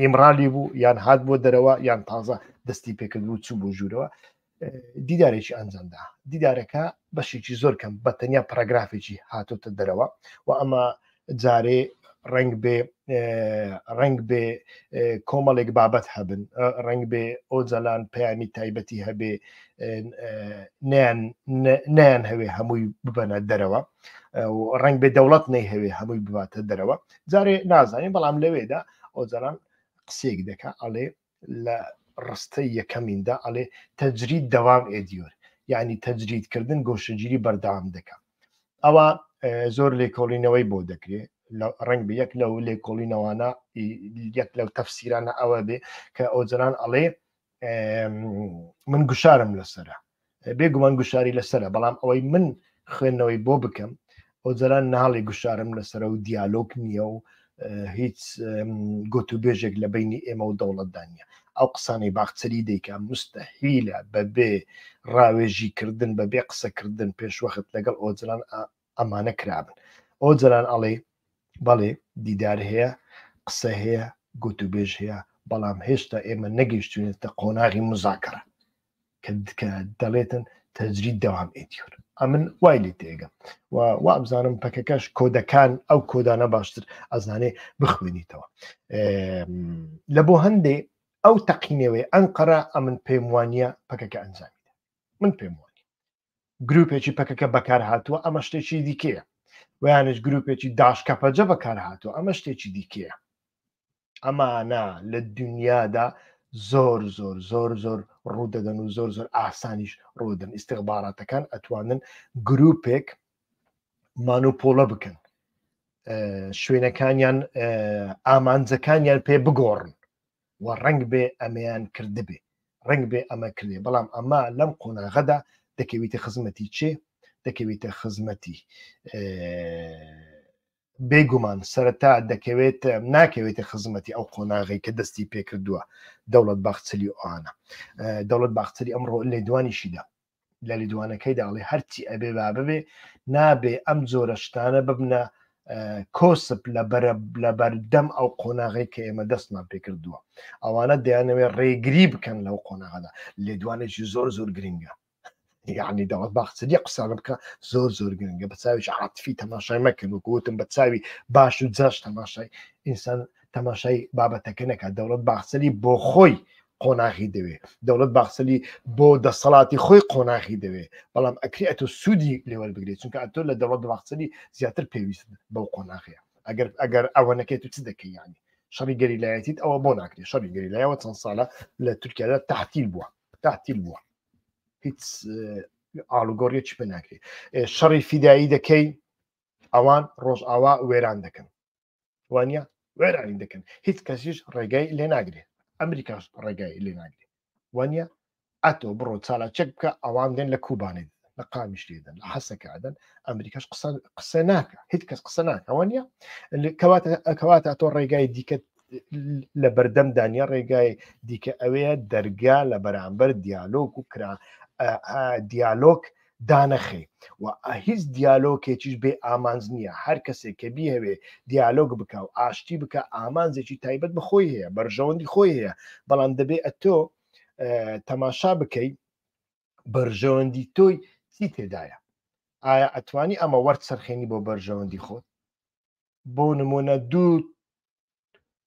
S1: ئیمرالی بوو یان هاات بۆ دەرەوە یان تازە دەستی پێکرد و چوو بۆ ژوورەوە دیدارێکی ئەنجامدا دیدارەکە بەشێکی زۆر کەم بە تەنیا پراگرافێکی هاتۆتە دەرەوە و ئەمە جارێ ڕنگ بێ ڕنگ بێ کۆمەڵێک بابەت هەبن ڕنگ بێ ئۆجەلان پەیامی تایبەتی هەبێ نیان هەوێ هەمووی ببەنە دەرەوە ڕنگ بێ دەوڵەت نەی هەوێ هەمووی بباتە دەرەوە جارێ نازانین بەڵام لەوێدا ئۆجەلان قسێک دەکە ئەڵێ لە ڕستەی یەکەمیندا ئەڵێ تەجرید دەوام ئێدیۆر یعنی تەجریدکردن گۆشەگیری بەردەوام دەکەم ئەوە زۆر لێکۆڵینەوەی بۆ دەکرێ ڕنگ بە یەک لەو لێکۆڵینەوانە یەک لەو تەفسیرانە ئەوە بێ کە ئەوجلان ئەڵێ من گوشارم لەسرە بێ گومان گوشاری لەسرە بەڵام ئەوەی من خوێندنەوەی بۆ بکەم ئۆجەران ناڵی گوشارم لەسرە و دیالۆک نییە و هیچ گوتوبێژێک لە بینی ئێمە و دەوڵەتدانە ئەو قسانەی باخچەری دەیکا مستەحیلە بەبێ ڕاوێژی کردن بەبێ قسەکردن پێشوەخت لەگەڵ ئۆجران ئەمانە کرابن ئەو جەران ئەڵێ بەڵێ دیدار هەیە قسە هەیە گوتوبێژ هەیە بەڵام هێشتا ئێمە نەگەیشتوێتە قۆناغی مزاکەڕە کە دەڵێتن تەجری داوام ئێتیۆر ئەمن وای لێ تێگە و وابزانم پەکەکەش کۆدەکان ئەو کۆدانە باشتر ئەزانێ بخوێنیتەوە لە بۆ هەندێ ئەو تەقینەوەی ئەنقەرە ئەمن پێم وانە پەکەکە ئەنجامی من پێم وانە گروپێکی پەکەکە بەکارهاتووە ئەمە شتێکی دیکەیە ویانش گروپێکی داشکەپەجە بەکارهاتووە ئەمە شتێکی دیکەیە ئەمانە لە دنیادا زۆر زۆر زۆر زۆر ڕوودەدەن و زۆر زۆر ئاسانیش ڕوودن ئیسیغباراتەکان ئەتوانن گروپێک مانوپۆڵە بکەن شوێنەکانیان ئامانجەکانیان پێ بگۆڕن و ڕەنگ بێ ئەمەیان کردبێ ڕەنگ بێ ئەمە کردێ بەڵام ئەمە لەم قۆناغەدا دەکەویتە خزمەتی چێ دەکەویتە خزمەتی بێگومان سەرەتا دەکەوێت ناکەوێتە خزمەتی ئەو قۆناغی کە دەستی پێکردووە دەوڵەت باخچلی ئەوانە دەوڵەت باخچلی ئەمڕۆ لێدوانیشیدا لە لیدوانەکەیدا ئەڵێ هەرچی ئەبێ با ببێ نابێ ئەم جۆرە شتانە ببنە کۆسپ لە بەرە لە بەردەم ئەو قۆناغی کە ئێمە دەستمان پێکردووە ئەوانە دەیانەوێت ڕێگری بکەن لەو قۆناغدا لێدوانێکی زۆر زۆر گرنگە یعنی دەوڵەت باخچری قسانە بکە زۆر زۆر گرنگە بە چاویش عاتفی تەماشای مەکرد و گوتم بە چاوی باش و جاش تەماشای ئینسان تەماشای بابەتەکە نەکات دەوڵەت باخچری بۆ خۆی قۆناغی دەوێ دەوڵەت باخسەلی بۆ دەسەڵاتی خۆی قۆناغی دەوێ بەڵام ئەکری ئەتۆ سوودی لێوەر بگرێت چونکە ئەتۆ لە دەوڵەت باخسەلی زیاتر پێویست بەو قۆناغەیە ئەگەر ئەگەر ئەوە نەکەێت و چ دەکەی ینی شەڕی گەریلایەتیت ئەوە بۆ ناکرێت شەڕی گەریلایەوە چەند ساڵە لە تورکیادا تحتیل بووە تحتیل بووە هیچ ئاڵوگۆڕیەکی پێ ناکرێت شەڕی فیدایی دەکەی ئەوان ڕۆژئاوا وێران دەکەن وانە وێرانی دەکەن هیچ کەسیش ڕێگای لێ ناگرێ ئەمریکاش ڕێگای لێ ناگرێ وانە ئەتۆ بڕۆ چالا چەک بکە ئەوان دێن لە کوبانێ لە قامیش لێدەن لە حەسەکەدەن ئەمریکاش قسە قسە ناکە هیچ کەس قسە ناکەەوە نیە کەواتە ئەکەواتە تۆ ڕێگای دیکە لە بەردەم دانیا ڕێگای دیکە ئەوەیە دەرگا لە بەرامبەر دیالۆک و کرا دیالۆک دانەخەی و هیچ دیالۆکێکیش بێ ئامانج نییە، هەر کەسێک کە بیهەوێ دیالۆگ بکا و ئاشتی بکا ئامانجێکی تایبەت بە خۆی هەیە، بەرژەوەندی خۆی هەیە، بەڵام دەبێ ئەتۆ تەماشا بکەی بەرژەوەندی تۆی چی تێدایە؟ ئایا ئەتوانی ئەمە وەرچەرخێنی بۆ بەرژەوەندی خۆت؟ بۆ نمونە دوو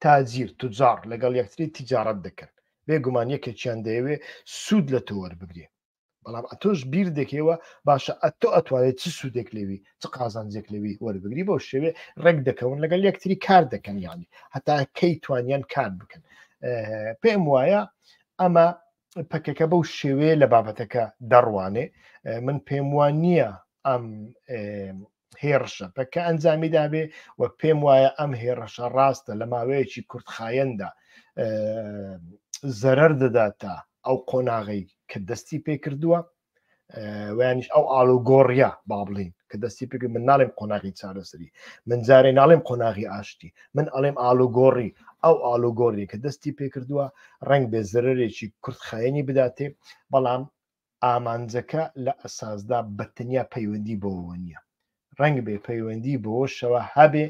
S1: تاجیر، تجار، لەگەڵ یەکتری تیجارەت دەکەن، بێ گومان یەکێکیان دەیەوێ سوود لە تۆ وەربگرێ، بەڵام ئەتۆش بیر دەکەیەوە باشە ئەتۆ ئەتوانێ چ سوودێک لەوی، چ قازانجێک لەوی وەربگری، بەو شێوەیە ڕێک دەکەون لەگەڵ یەکتری کار دەکەن یانی هەتا کەی توانیان کار بکەن. پێم وایە ئەمە پەکەکە بەو شێوەیە لە بابەتەکە دەڕوانێ من پێم وان نییە ئەم هێڕشە پەککە ئەنجامی دابێ و پێم وایە ئەم هێڕەشە ڕاستە لە ماوەیەکی کورتخایەندا زەرەر دەدات تا ئەو قۆناغی کە دەستی پێ کردووە ویانش ئەو ئالو گۆڕە با بڵین کە دەستی پێ من ناڵێم قۆناغی چارەسەری من جارێ ناڵێم قۆناغی ئاشتی من ئەڵێم ئالو گۆڕی ئەو ئالو گۆڕی کە دەستی پێ کردووە ڕنگ بێ زەرێکی کورتخایەنی بداتێ بەڵام ئامانجەکە لە ئەساسدا بە تەنیا پەیوەندی بەوەوە نییە، ڕەنگبێ پەیوەندی بەوەشەوە هەبێ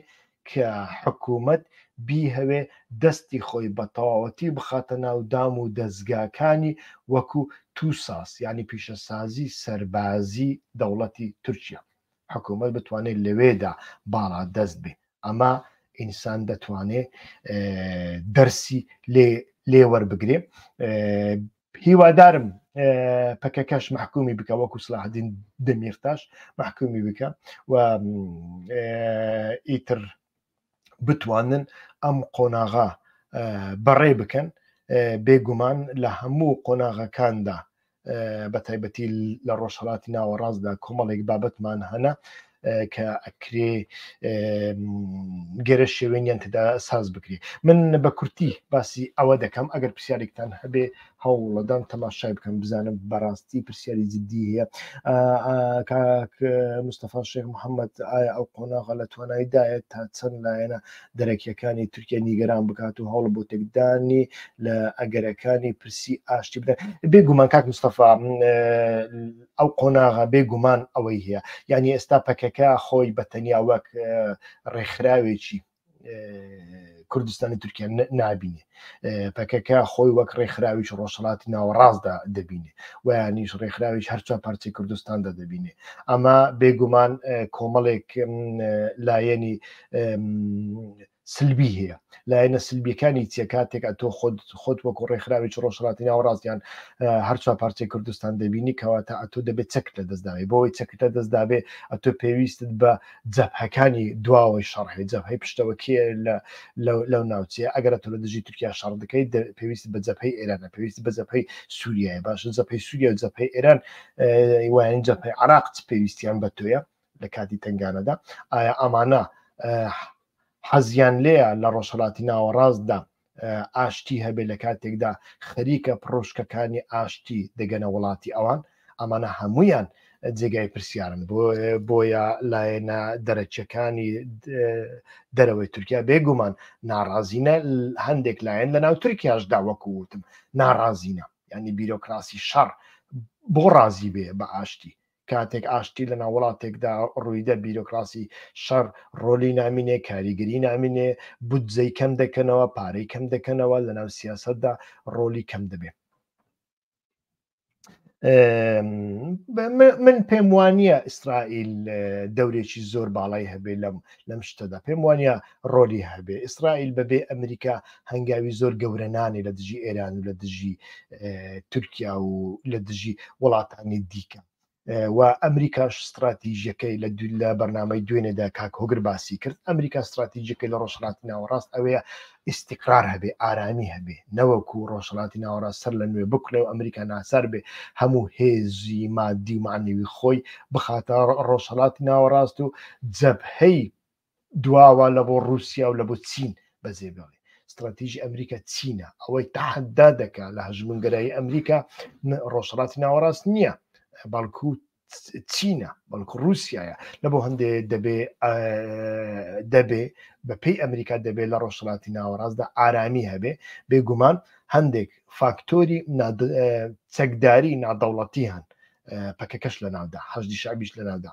S1: کە حکوومەت بیهەوێ دەستی خۆی بە تەواوەتی بخاتە ناو دام و دەزگاکانی وەکوو توساس یانی پیشەسازی سەربازی دەوڵەتی تورکیا حکوومەت بتوانێت لەوێدا باڵا دەست بێ ئەمە ئینسان دەتوانێ دەرسی لێ لێوەربگرێ هیوادارم پەکەکەش محکومی بکە وەکو سلاحدین دەمیرتاش محکومی بکە و ئیتر بتوانن ئەم قۆناغا بەڕێ بکەن بێگومان لە هەموو قۆناغەکاندا بە تایبەتی لە ڕۆژهڵاتی ناوەڕاستدا کۆمەڵێک بابەتمان هەنا کە ئەکرێ گەرە شێوێنیان تدا ساز بکرێ من بە کورتی باسی ئەوە دەکەم ئەگەر پرسیارێکتان هەبێ هەوڵەدان تەماشای بکەم بزانم بەڕاستی پرسیاری جددی هەیە مستەفا شێخ محەممەد ئایا ئەو قۆناغە لە توانایدایە تا چەند لایەنە دەرەکیەکانی تورکیا نیگەران بکات و هەوڵ بۆ تێکدانی لە ئەگەرەکانی پرسی ئاشتی بدەن بێگومان کاک مستەفا ئەو قۆناغە بێ گومان ئەوەی هەیە یعنی ئێستا پەکەکە خۆی بە تەنیا وەک ڕێکخراوێکی کوردستانی تورکیا نبینێ پەکەکە خۆی وەک ڕێکخراویش ڕۆژهڵاتی ناوەڕاستدا دەبینێ ویانیش ڕێکخراویش هەرچە پارچەی کوردستاندا دەبینێ ئەمە بێگومان کۆمەڵێک لایەنی سلبی هەیە لایەنە سلبیەکانی چیە کاتێک ئەتۆ خۆت خۆت وەکو ڕێکخراوێکی ڕۆژهڵاتی ناوەڕاستیان هەرچوە پارچەی کوردستان دەبینی کەواتە ئەتۆ دەبێت چەک لە دەستداوی بۆی چەک لە دەستدابێ ئەتۆ پێویستت بە جەبهەکانی دواوەی شەڕهی جەبهەی پشتەوەکیە لە لەو ناوچەیە ئەگەر تۆ لە دژی تورکیا شەڕ دەکەی پێویست بە جەپەی ئێرانە پێویست بە جەپەی سووریای باشە جەپەی سووریا و جەپەی ئێران وایەن جەپەی عراق پێویستیان بە تۆیە لە کاتی تنگانەدا ئایا ئەمانە حەزیان لێە لە ڕۆژهڵاتی ناوەڕاستدا ئاشتی هەبێ لە کاتێکدا خەریکە پرۆشکەکانی ئاشتی دەگەنە وڵاتی ئەوان ئەمانە هەمویان جێگای پرسیارن بۆ بۆیە لایەنە دەرەچەکانی دەرەوەی تورکیا بێگومان ناڕازینە هەندێک لایەن لە ناو تورکیاشدا وەکووتم ناڕازینە ینی بیرۆکراسی شەڕ بۆ ڕازی بێ بە ئاشتی کاتێک ئاشتی لە ناو وڵاتێکدا ڕوویدە بیرۆکراسی شەڕ ڕۆلی نامینێ کاریگەری نامینێ بودجەی کەم دەکەنەوە پارەی کەم دەکەنەوە لە ناو سیاسەتدا ڕۆلی کەم دەبێ من پێم وانە ئیسرائیل دەورێکی زۆر باڵای هەبێ لەم لەم شتەدا پێم وانە ڕۆلی هەبێ ئیسرائیل بەبێ ئەمریکا هەنگاوی زۆر گەورە نانێ لە دژی ئێران و لە دژی تورکیا و لە دژی وڵاتانی دیکە و ئەمریکاش استراتیژیەکەی لە دولا بەرنمەی دوێنێدا کاک هۆگر باسی کرد ئەمریکا استراتیژیەکەی لە ڕۆژهڵاتی ناوەڕاست ئەوەیە ئیستیقرار هەبێ، ئارامی هەبێ، نەوەکو ڕۆژهەڵاتی ناوەڕاست سەر لە نوێ بکوڵێ و ئەمریکا ناچار بێ هەموو هێزی مادی و مەعنەوی خۆی بخاتە ڕۆژهەڵاتی ناوەڕاست و جەبهەی دواوە لە بۆ ڕووسیا و لە بۆ چین بەجێ بێڵێ. ستڕاتیژی ئەمریکا چینە، ئەوەی تەحەدا دەکا لە هەژموونگەرایی ئەمریکا ڕۆژهەڵاتی ناوەڕاست نییە، بەڵکوو چینە بەڵکو رووسایە لە بۆ هەندێ دەبێ دەبێ بە پێی ئەمریکا دەبێت لە ڕۆژهڵاتی ناوەڕاستدا ئارامی هەبێ بێگومان هەندێک فاکتۆری چەکداری نادەوڵەتی هەن پەکەکەش لە ناودا حەشدی شعبیش لە ناودا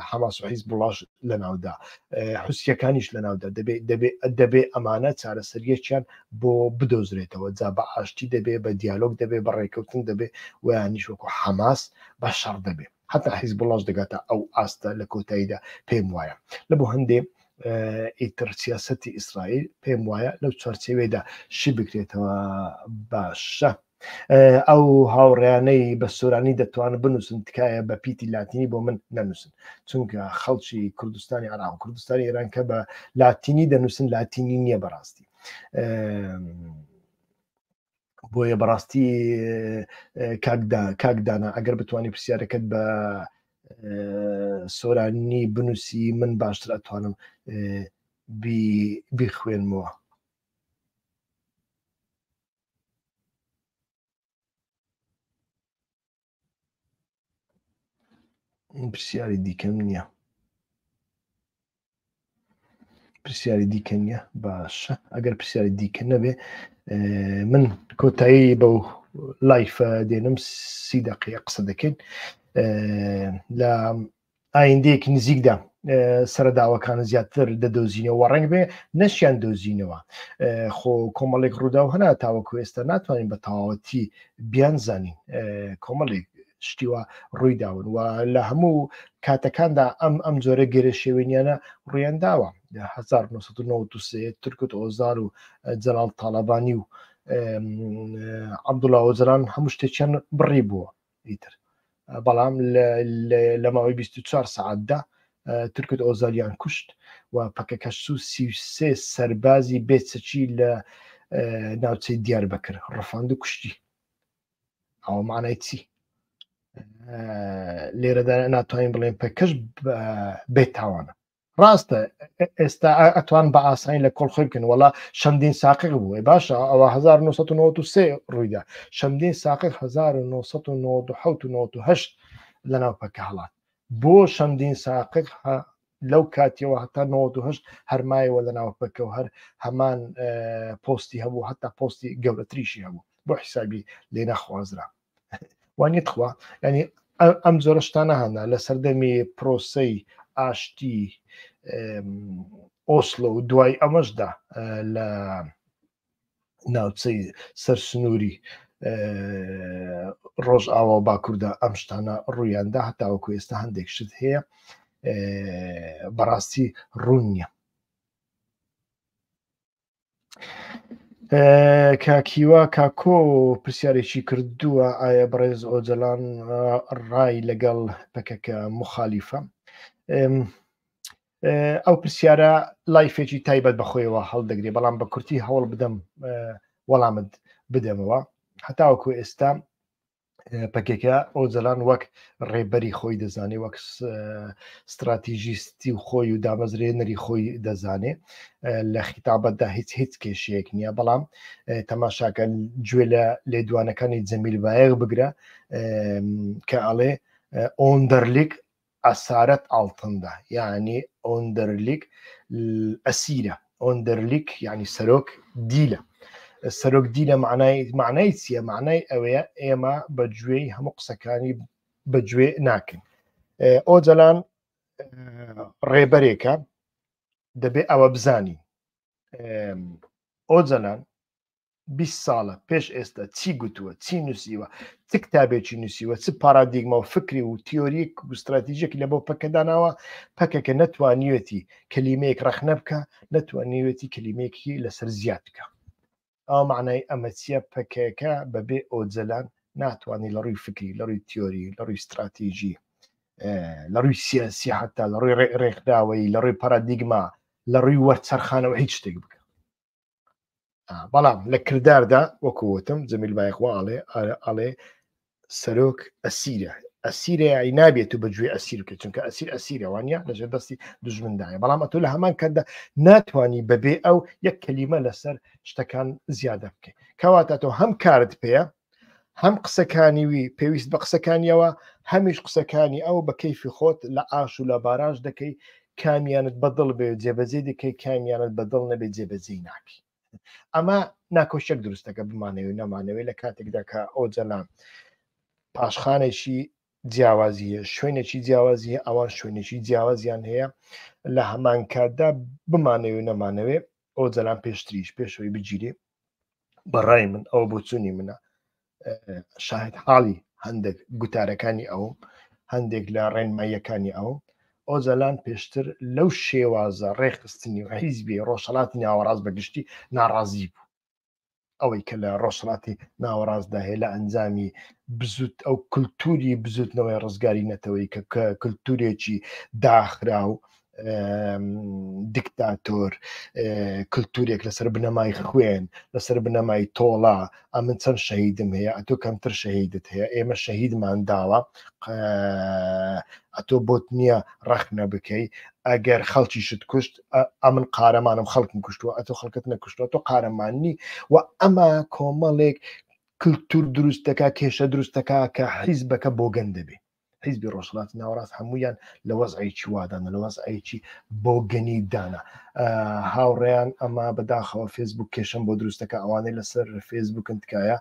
S1: حەماس و حیز بڵاش لە ناودا حوسیەکانیش لە ناودا دەبێت دەبێت دەبێ ئەمانە چارەسەریەکیان بۆ بدۆزرێتەوە جا بە ئاشتی دەبێ بە دیالۆگ دەبێ بە ڕێککەوتن دەبێ ویانیش وەکو حەماس بە شەڕ دەبێ حتا حیزبوڵاش دەگاتە ئەو ئاستە لە کۆتاییدا پێم وایە لە بۆ هەندێ ئیتر سیاستی ئیسرائیل پێم وایە لەو چوارچەوێدا شی بکرێتەوە باشە ئەو هاوڕیانەی بە سۆرانی دەتوانن بنووسن تکایە بە پیتی لاتینی بۆ من نەنووسن چونکە خەڵکی کوردستانی عراق کوردستانی ئێران کە بە لاتینی دەنووسن لاتینی نییە بەڕاستی بۆیە بەڕاستی کاکدانا ئەگەر بتانی پرسیارەکەت بە سۆرانی بنووسی من باشتر ئەتوانم بیخوێنمەوە پرسیاری دیکەم نییە پرسیاری دیکە نییە باشە ئەگەر پرسیاری دیکە نەبێ من کۆتایی بەو لایفە دێنم سی دقی قسە دەکەین لە ئایندەیەکی نزیکدا سەرداوەکان زیاتر دەدۆزینەوە ڕنگ بێ نەشیان دۆزینەوە خۆ کۆمەڵێک ڕوودا و هەنا تاوەکو ئێستا ناتوانین بە تەواوەتی بیان زانین کۆمەڵێک شتیوە ڕوویداون و لە هەموو کاتەکاندا ئەم ئەم جۆرە گەرە شێوێنیانە ڕویان داوە 1993 ترکوت ئۆزار و جەلال تاالبانی و عبدوڵاوەجران هەموو شتێکیان بڕی بووە ئیتر بەڵام لە ماوەی 24 سعاتدا ترکت ئۆزالیان کوشت و پەکەکەسو سیسێ سەربازی بێچەکی لە ناوچەی دیار بەکرد ڕفاند و کوشتی ئەوە مانای چی لێرەدا ناتوانین بڵێن پێکەش بێتاوانە ڕاستە ئێستا ئەتوان بە ئاسانی لە کۆڵ خۆی بکەن وڵا چەندین ساقق بووە باشە ئەوە 1993 ڕوویدا چەندین ساقق 1990 لەناو پەکە هەڵات بۆ چەندین ساقق لەو کاتیەوە هەتا 1970 هەرمایەوە لە ناو پەکە و هەر هەمان پۆستی هەبوو هەتا پۆستی گەورەتریشی هەبوو بۆ حیسابی لێ نەخوازرا وانە تخوا ینی ئەم جۆرە شتانە هەنا لە سەردەمی پرۆسی ئاشتی ئۆسلۆ و دوای ئەمەشدا لە ناوچەی سەر سنووری ڕۆژ ئاوا و باکووردا ئەم شتانە ڕوویاندا هەتاوەکو ئێستا هەندێک شت هەیە بەڕاستی ڕوون نیە کاکیوا کاکۆ پرسیارێکی کردووە ئایا بەڕێز ئۆجلان ڕای لەگەڵ پەکەکە مخالیفە ئەو پرسیارە لایفێکی تایبەت بەخۆیەوە هەڵدەگرێ بەڵام بە کورتی هەوڵ بدەم وەڵامت بدەمەوە هەتاوەکو ئێستا پەکێکە ئۆجەلان وەک ڕێبەری خۆی دەزانێ وەک ستراتیژیستی و خۆی و دامەزرێنەری خۆی دەزانێ لە خیتابەتدا هیچ هیچ کێشەیەک نییە بەڵام تەماشاکە گوێ لە لێدوانەکانی جەمیل بایەغ بگرە کە ئەڵێ ئۆندەرلیک ئەسارەت ئاڵتندا یانی ئۆندەرلیک ئەسیرە ئۆندەرلیک یانی سەرۆک دیلە سەرۆک دیلە معنای معنای چییە معنای ئەوەیە ئێمە بە گوێی هەموو قسەکانی بەگوێ ناکەین ئۆجەلان ڕێبەرێکە دەبێ ئەوە بزانین ئۆجەلان بیست ساڵە پێش ئێستا چی گوتووە چی نووسیوە چ کتابێکی نووسیوە چ پارادیگما و فکری و تیۆریک و استراتیژێکی لە بۆ پەکەداناوە پەکەکە نەتوانیوێتی کەلیمەیەک ڕەخنە بکە نەتوانیوێتی کەلیمێکی لەسەر زیاد بکە ئەو معنای ئەمە چیە پەکەکە بەبێ ئۆجلان ناتوانانی لە ڕووی فکری لە ڕووی تیۆری لە ڕووی استراتیژی لە ڕووی سیاسی حتا لە ڕووی ڕێکداوەی لە ڕووی پارادیگما لە ڕووی وەرچەرخانەوە هیچ شتێک بکە بەڵام لە کرداردا وەکوتم جەمیل بایخوا ئاڵێ ئاڵێ سەرۆک ئەسیرە ئەسیرە ئەی نابێت و بەگوێ ئەسیر بکە چونکە ئەسیر ئەسیرەوانە لەژێر دەستی دژمندایە بەڵام ئەتو لە هەمان کەدا ناتانی بەبێ ئەو یەک کەلیمە لەسەر شتەکان زیادە بکەیت کەواتە تۆ هەم کارت پێەیە هەم قسەکانی وی پێویست بە قسەکانیەوە هەمیش قسەکانی ئەو بە کەیفی خۆت لە ئاش و لە باراش دەکەی کامیانت بەدڵ بێ جێبەجێ دەکەی کامیانت بەدڵ نەبێت جێبەجێی ناکەی ئەمە ناکۆشێک دروستەکە بمانەوەی نەمانەوەی لە کاتێکدا کە ئەو جەلام پاشخانێکی جیاوازیە شوێنێکی جیاوازیە ئەوان شوێنێکی جیاوازیان هەیە لە هەمان کاتدا بمانەوەی نەمانەوێ ئەو جەلام پێشتریش پێشەوەی بگیرێ بەڕای من ئەوە بۆچوونی منە شاهد حاڵی هەندێک گوتارەکانی ئەو هەندێک لە ڕێنماییەکانی ئەو ئۆجالان پێشتر لەو شێوازە ڕێخستنی و حیزبی ڕۆژهڵاتی ناوەڕاست بەگشتی ناڕازی بوو ئەوەی کە لە ڕۆژهڵاتی ناوەڕاستدا هەیە لە ئەنجامی بزوت ئەو کللتوری بزوتنەوەی ڕزگاری نەتەوەی کە کە کللتورێکی داخرا و دکتاتۆر کللتورێک لەسەر بنەمای خوێن لەسەر بنەمای تۆڵا ئەمن چەند شەهیدم هەیە ئەتۆ کەمتر شەهیدت هەیە ئێمە شەهیدمان داوە ئەتۆ بۆت نییە ڕەخنە بکەی ئەگەر خەڵکی شت کوشت ئەمن قارەمانم خەڵکم کوشتووە ئەتۆ خەڵکت نەکوشتوە تۆ قارەماننی و ئەمە کۆمەڵێک کللتور دروستەکە کێشە دروستەکە کە حیزبەکە بۆ گەن دەبێت حیزبی ڕۆژهڵاتی ناوەڕاست هەمویان لە وەزعێکی وادانە لە وەزعێکی بۆگەنی دانا هاوڕێیان ئەما بەداخەوە فێسبوک کێشم بۆ دروستەکە ئەوانەی لەسەر فێسبوکن تکایە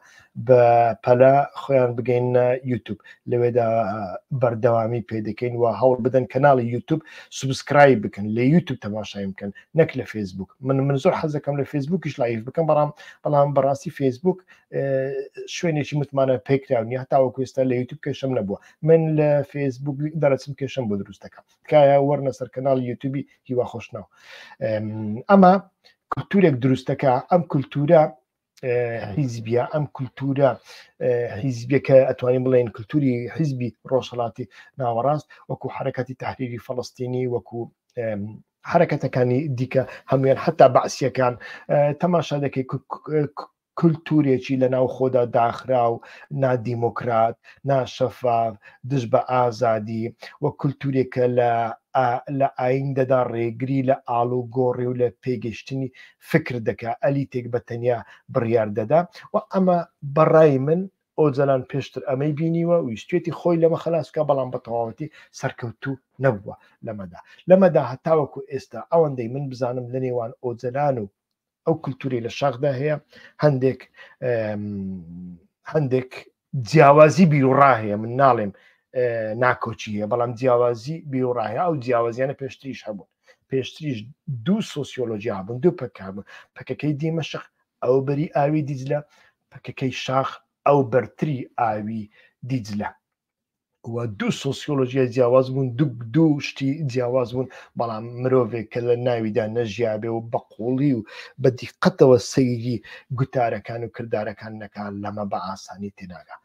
S1: بە پەلا خۆیان بگەینە یوتوب لەوێدا بەردەوامی پێدەکەین و هەوڵ بدەن کەناڵی یوتوب سوبسکرای بکەن لە یوتوب تەماشای بکەن نەک لە فێسبوک من من زۆر حەزەکەم لە فێسبوکیش لایف بکەم بەڵام بەڵام بەڕاستی فێسبوک شوێنێکی متمانە پێکراونی هەتاوە کوێستا لە یوتوب کێشم نەبووە من لە فێسبوک دەرەچم کێشم بۆ دروست دەکەم تکایە وەرنە سەر کەناڵ یوتوبی هیوا خۆشنەوە ئەمە کللتورێک دروستەکە ئەم کللتورە حیزبیە ئەم کللتورە حیزبیەکە ئەتوانین بڵێن کللتوری حیزبی ڕۆژهڵاتی ناوەڕاست وەکو حرەکەتی تحریری فلستینی وەکو حرەکەتەکانی دیکە هەمویان حتا بەعسیەکان تەماشا دەکەی کلتورێکی لە ناوخۆدا داخراو، نادیموکرات، ناشەفاف، دژ بە ئازادی و کلتورێکە لە لە ئایندەدا ڕێگری لە ئاڵوگۆڕی و لە پێگەیشتنی فکر دەکا، ئەلیتێک بە تەنیا بڕیار دەدا و ئەمە بە ڕای من ئۆجەلان پێشتر ئەمەی بینیوە ویستوێتی خۆی لەمە خەلاس بکا بەڵام بە تەواوەتی سەرکەوتوو نەبووە لەمەدا لەمەدا هەتاوەکو ئێستا ئەوەندەی من بزانم لە نێوان ئۆجەلان و ئەو کللتوری لە شاخدا هەیە هەندێک هەندێک جیاوازی بیرڕاهەیە من ناڵێم ناکۆچی هەیە بەڵام جیاوازی بیرڕاهەیە ئەو جیاوازیانە پێشتریش هەبوون پێشتریش دوو سوسیۆلۆژی هابوون دوو پکبوو پکەکەی دیمە شخ ئەو بەری ئاوی دیجلە پکەکەی شاخ ئەو بەرتری ئاوی دیجلە و دوو سۆسیۆلۆژیای جیاواز بوون دوو دوو شتی جیاواز بوون بەڵام مرۆڤێک کە لە ناویدا نەژیابێ و بە قوڵی و بە دیقەتەوە سەیری گوتارەکان و کردارەکان نەکان لەمە بە ئاسانی تێناگا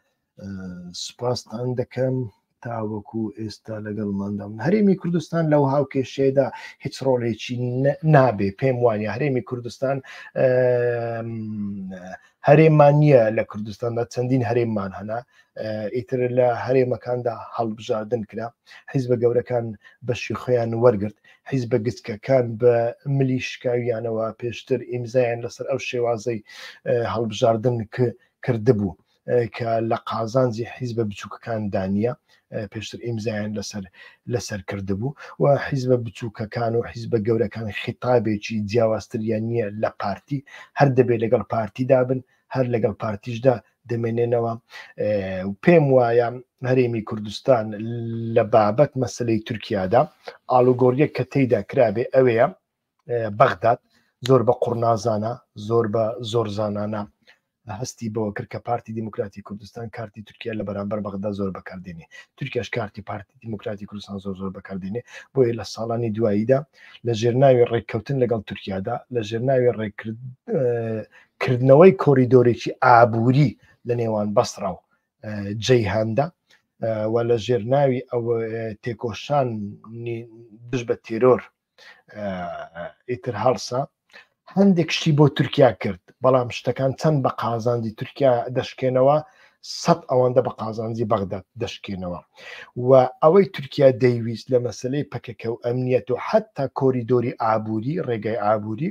S1: سوپاستان دەکەم تاوەکو ئێستا لەگەڵماندام هەرێمی کوردستان لەو هاوکێشێدا هیچ ڕۆڵێکی نابێ پێم وانە هەرێمی کوردستان هەرێمان نییە لە کوردستاندا چەندین هەرێمان هەنا ئیتر لە هەرێمەکاندا هەڵبژاردن کرا حیزبە گەورەکان بەشی خۆیان وەرگرت حیزبە گچکەکان بە ملی شکاویانەوە پێشتر ئیمزایان لەسەر ئەو شێوازەی هەڵبژاردن کردبوو کە لە قازانجی حیزبە بچووکەکان دانیە پێشتر ئیمزایان لەسەر لەسەر کردبوو و حیزبە بچووکەکان و حیزبە گەورەکان خیتابێکی جیاوازتریان نییە لە پارتی هەر دەبێت لەگەڵ پارتیدا بن هەر لەگەڵ پارتیشدا دەمێنێنەوە و پێم وایە هەرێمی کوردستان لە بابەت مەسلەی تورکیادا ئالوگۆریە کە تێیدا کرابێ ئەوەیە بەغداد زۆر بە قڕنازانە زۆر بە زۆر زانانە هەستی بەوە کرد کە پارتی دیموکراتی کوردستان کارتی تورکیا لە بەرامبەر بەغدا زۆر بەکاردێنێ تورکیاش کارتی پارتی دیموکراتی کوردستان زۆر زۆر بەکاردێنێ بۆیە لە ساڵانی دواییدا لە ژێرناوی ڕێککەوتن لەگەڵ تورکیادا لە ژێرناوی ڕێکرد کردنەوەی کۆریدۆرێکی ئابووری لە نێوان بەسڕاو جێی هەندە و لە ژێرناوی ئەو تێکۆشان دژ بە تێرۆر ئیتر هەڵسا هەندێک شتی بۆ تورکیا کرد بەڵام شتەکان چەند بە قازانجی تورکیا دەشکێنەوە سەد ئەوەندە بە قازانجی بەغدا دەشکێنەوە و ئەوەی تورکیا دەیویست لە مەسلەی پەکەکە و ئەمنیەت و حتا کۆریدۆری ئابووری ڕێگای ئابووری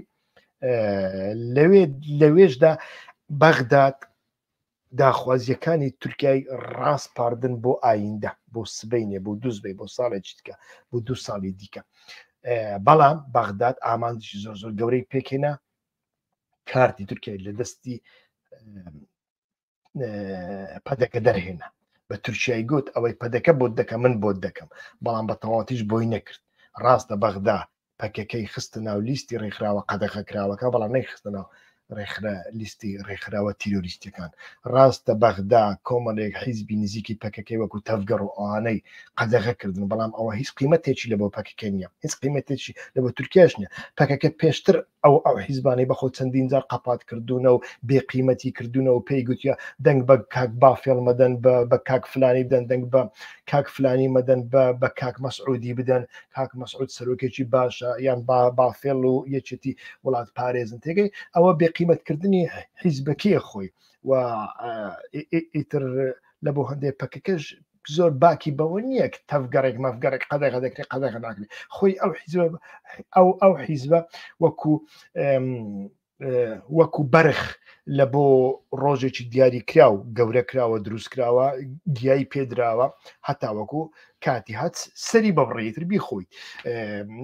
S1: لەوێ لەوێشدا بەغداد داخوازیەکانی تورکای ڕاستپاردن بۆ ئایندە بۆ سبینێ بۆ دوزبێ بۆ ساڵێک چیتکە بۆ دو ساڵی دیکە بەڵام بەغداد ئامانجی زۆر زۆر گەورەی پێکێنا کارتی تورکای لە دەستی پەدەکە دەرهێنا بە تورکیای گوت ئەوەی پەدەکە بۆت دەکە من بۆت دەکەم بەڵام بە تەواوتیش بۆی نەکرد ڕاستە بەغدا پەکەکەی خستە ناو لیستی ڕێکخراوە قەدەخە کراوەکە بەڵام نەیخستە ناو ڕێکخرا لیستی ڕێکخراوە تیرۆریستەکان ڕاستە بەغدا کۆمەڵێک حیزبی نزیکی پەکەکەی وەکو تەفگەڕ و ئەوانەی قەدەغە کردن بەڵام ئەوە هیچ قیمەتێکی لە بۆ پەکەکە نیە هیچ قیمەتێکی لە بۆ تورکیاش نیە پەکەکە پێشتر ئەو ئەو حیزبانەی بەخۆ چەندین جار قەپات کردوونە و بێ قیمەتی کردوونە و پێی گوتیە دەنگ بە کاک بافێڵ مەدەن بە کاک فلانی بدەن دەنگ بە کاک فلانی مەدەن بە بە کاک مەسعودی بدەن کاک مەسعود سەرۆکێکی باشە یان با بافێڵ و یەکێتی وڵات پارێزن تێگەی ئەوە بێ قیمەتکردنی حیزبەکەی خۆی و ئیتر لە بۆ هەندێک پەکەکەش زۆر باکی بەوە نییە کە تەفگەڕێک مەفگەڕێک قەدەغە دەکرێت قەدەغە ناکرێت خۆی ئەو حیزبە ئەو ئەو حیزبە وەکو وەکو بەرخ لە بۆ ڕۆژێکی دیاری کرا و گەورە کراوە دروست کراوە گیایی پێدراوە هەتا وەکو کاتی هەت سەری بەبڕێتر بیخۆیت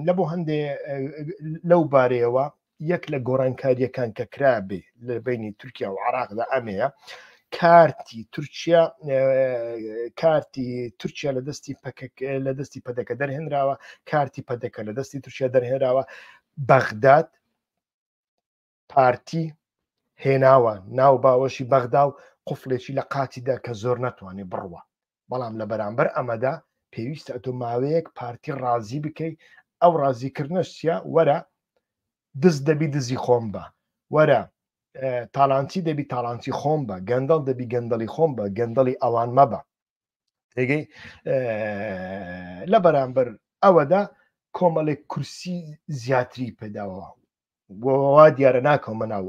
S1: لە بۆ هەندێ لەو بارەیەوە یەک لە گۆڕانکاریەکان کە کرابێ لە بینی تورکیا و عراقدا ئەمەیە کارتی تورکیا کارتی تورکیا لە دەستی لە دەستی پەدەکە دەرهێنراوە کارتی پەدەکە لە دەستی تورکیا دەرهێنراوە بەغداد پارتی هێناوە ناو باوەشی بەغدا و قفلێکی لە قاتیدا کە زۆر ناتوانێت بڕوە بەڵام لە بەرامبەر ئەمەدا پێویستە ئەتۆ ماوەیەک پارتی ڕازی بکەی ئەو ڕازیکردنەش چیە وەرە دز دەبی دزی خۆم بە وەرە تاالانچی دەبی تاالانچی خۆم بە گەندەڵ دەبی گەندەڵی خۆم بە گەندەڵی ئەوان مەبە تێگەی لە بەرامبەر ئەوەدا کۆمەڵێک کورسی زیاتری پێداوە بۆ وا دیارە ناکەمە ناو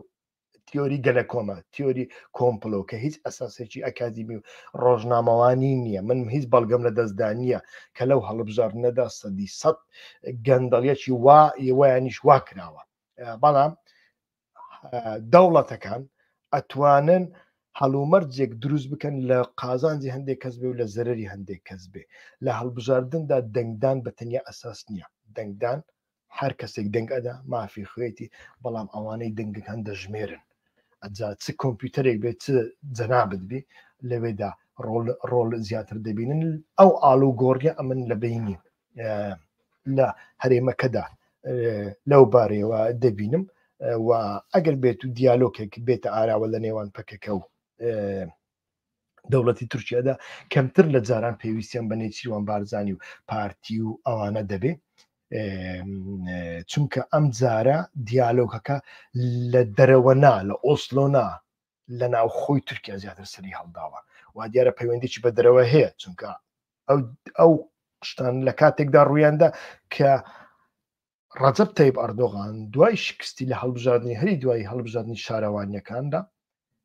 S1: تیۆری گەلە کۆمە تیۆری کۆمپلۆ کە هیچ ئەساسێکی ئەکادیمی و ڕۆژنامەوانی نییە من هیچ بەڵگەم لە دەستدا نییە کە لەو هەڵبژاردنەدا سەدی سەد گەندەڵیەکی وا یوەیانیش وا کراوە بەڵام دەوڵەتەکان ئەتوانن هەڵومەرجێک دروست بکەن لە قازانجی هەندێک کەس بێ و لە زەرری هەندێک کەس بێ لە هەڵبژاردندا دەنگدان بە تەنیا ئەساس نییە دەنگدان هەر کەسێک دەنگ ئەدا مافی خوێتی بەڵام ئەوانەی دەنگت هەن دەژمێرن ئەجا چ کۆمپیوتەرێک بێت چ جەنابت بی لەوێدا ڕۆل زیاتر دەبینن ئەو ئال و گۆڕیە ئەمن لە بینی لە هەرێمەکەدا لەو بارەیەوە دەبینم و ئەگەر بێت و دیالۆکێک بێتە ئاراوە لە نێوان پەکەکە و دەوڵەتی تورکیادا کەمتر لە جاران پێویستیان بە نێچیروان بارزانانی و پارتی و ئەوانە دەبێ چونکە ئەم جارە دیالۆکەکە لە دەرەوەنا لە ئۆسلۆنا لە ناوخۆی تورکیا زیاتر سەری هەڵداوە وا دیارە پەیوەندیی بە دەرەوە هەیە چونکە ئەو ئەو شتان لە کاتێکدا ڕوویاندا کە ڕەجەب تەیب ئەردۆغان دوای شکستی لە هەڵبژاردنی هەری دوای هەڵبژاردننی شارەوانیەکاندا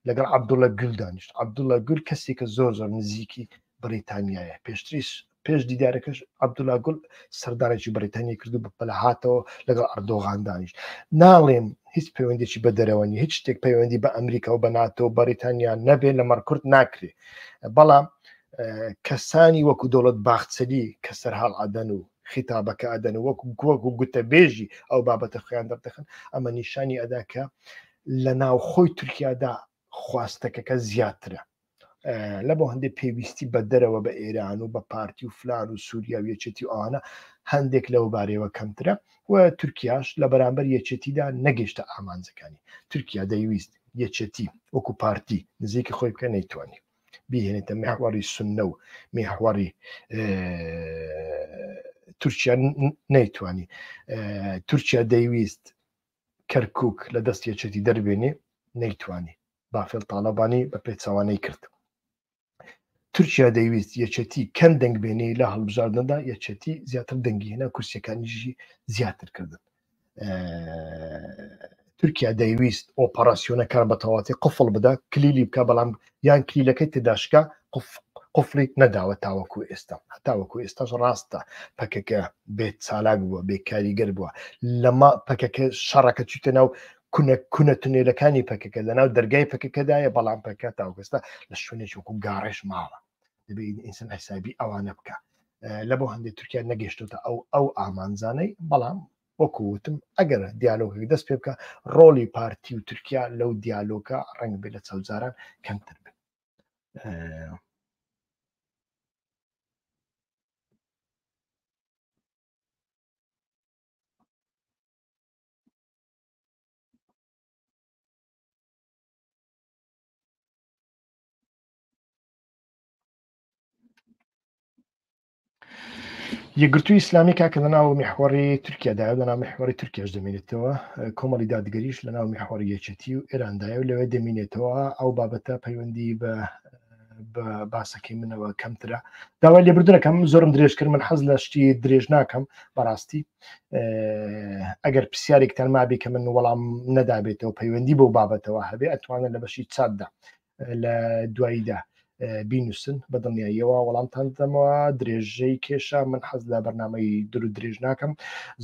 S1: لەگەڵ عبدوڵە گول دانیشت عبدوڵە گول کەسێکە زۆر زۆر نزیکی بریتانیایە پێشتریش پێش دیدارەکەش عبدولا گول سەردانێکی بریتانیە کردو بە پەلە هاتەوە لەگەڵ ئەردۆغان دانیش ناڵێم هیچ پەیوەندێکی بە دەرەوەنی هیچ شتێک پەیوەندی بە ئەمریکا و بە ناتۆ و بەریتانیا نەبێ لە مەڕکرد ناکرێ بەڵام کەسانی وەکو دەوڵەت باخچەلی کە سەرهاڵ عدەن و خیتابەکە ئەدەن وەک گۆک و گوتەبێژی ئەو بابەتە خۆیان دەردەخن ئەمە نیشانی ئەدا کە لە ناوخۆی تورکیادا خواستەکەکە زیاترە لە بۆ هەندێک پێویستی بە دەرەوە بە ئێران و بە پارتی و فلان و سووریا و یەکێتی و ئاانە هەندێک لەو بارەوە کەمترە و تورکیاش لە بەرامبەر یەکێتیدا نەگەشتە ئامانجەکانی تورکیا دەیویست یەکێتی وەکو پارتی نزیکی خۆی بکە نەیتوانانی بیهێنێتە میحوەری سنە و میحوەری تورکیا نەیتوانی تورکیا دەیویست کەرکک لە دەست یەچێتی دەربێنێ نەیتوانی بافێل تاالبانی بە پێچوانەی کرد تورکیا دەیویست یەچەتی کەم دەنگبێنەی لە هەڵبژاردندا یەچەتی زیاتر دەنگیهێنا کورسەکانیژی زیاتر کردن تورکیا دەیویست ئۆپەراسیۆنەکان بە تەواتی قفڵ بدە کلیلی بکە بەڵام یان کلیلەکەی تداشکە قفڵی نەداوە تاوەکو ئێستا تاوەکو ئێستاش ڕاستە پەکەکە بێت چالاک بووە بێکاریگەر بووە لەما پەکەکە شەڕەکە چیتە ناو کونە کونە تونێلەکانی پەکەکە لە ناو دەرگای پەکەکەدایە بەڵام پەکە تاوگەستا لە شوێنێکی وکو گاڕێش ماوە دەبێ ئینسان حسابی ئەوانە بکە لە بۆ هەندێک تورکیا نەگەشتوتە ئەو ئەو ئامانزانەی بەڵام وەکووتم ئەگەر دیالۆگەک دەست پێ بکە ڕۆلی پارتی و تورکیا لەو دیالۆگە ڕنگ بێ لە چەوزاران کەمتر بێت یەگرتو ئیسلامی کاکە لە ناو میحوەڕی تورکیادا لە ناو میحوەری تورکیاش دەمێنێتەوە کۆمەڵی دادگەریش لە ناو میحوەری یەکێتی و ئێراندایە و لەوێ دەمینێتەوە ئەو بابەتە پەیوەندی بە باسەکەی منەوە کەمترە داوای لێبردنەکەم زۆرم درێژ کرد من حەز لە شتی درێژ ناکەم بەڕاستی ئەگەر پرسیارێکتان مابێ کە من وەڵام نەدابێتەوە پەیوەندی بۆ بابەتەوە هەبێ ئەتوانن لە بەشی چاتدا لە دواییدا بینوسن بە دڵنیاییەوە وەڵامتان دەمەوە درێژەی کێشە من حەز لە بەرنمەی دور و درێژ ناکەم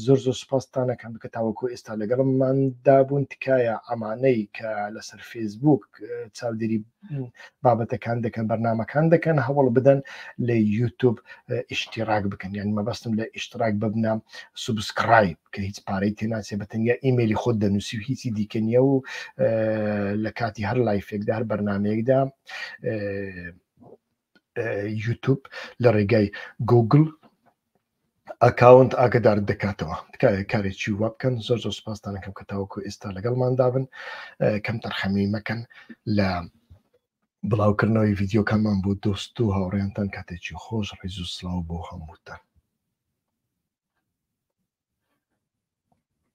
S1: زۆر زۆر سپاستانەکەم بکە تاوەکو ئێستا لەگەڵممان دابوون تکایە ئەمانەی کە لەسەر فێسبوک چاودێری بابەتەکان دەکەن بەرنمەکان دەکەن هەوڵ بدەن لە یوتوب ئیشتیراک بکەن یان مەبەستم لە ئیشتراک ببنە سوبسکرایب کە هیچ پارەی تێناچێ بە تەنیا ئیممەلی خۆت دەنووسی و هیچی دیکە نییە و لە کاتی هەر لایفێکدا هەر بەرنمەیەکدا یوتوب لە ڕێگای گوگل ئەکاونت ئاگدار دەکاتەوە تکایە کارێکی وا بکەن زۆر زۆر سپاستانەکەم کە تاوەکو ئێستا لەگەڵماندا بن کەم تەرخەمی مەکەن لە بڵاو کردنەوەی ڤیدیۆکانمان بۆ دۆست و هاوڕێیانتان کاتێکی خۆش ڕیز و سلااو بۆ هەمووتان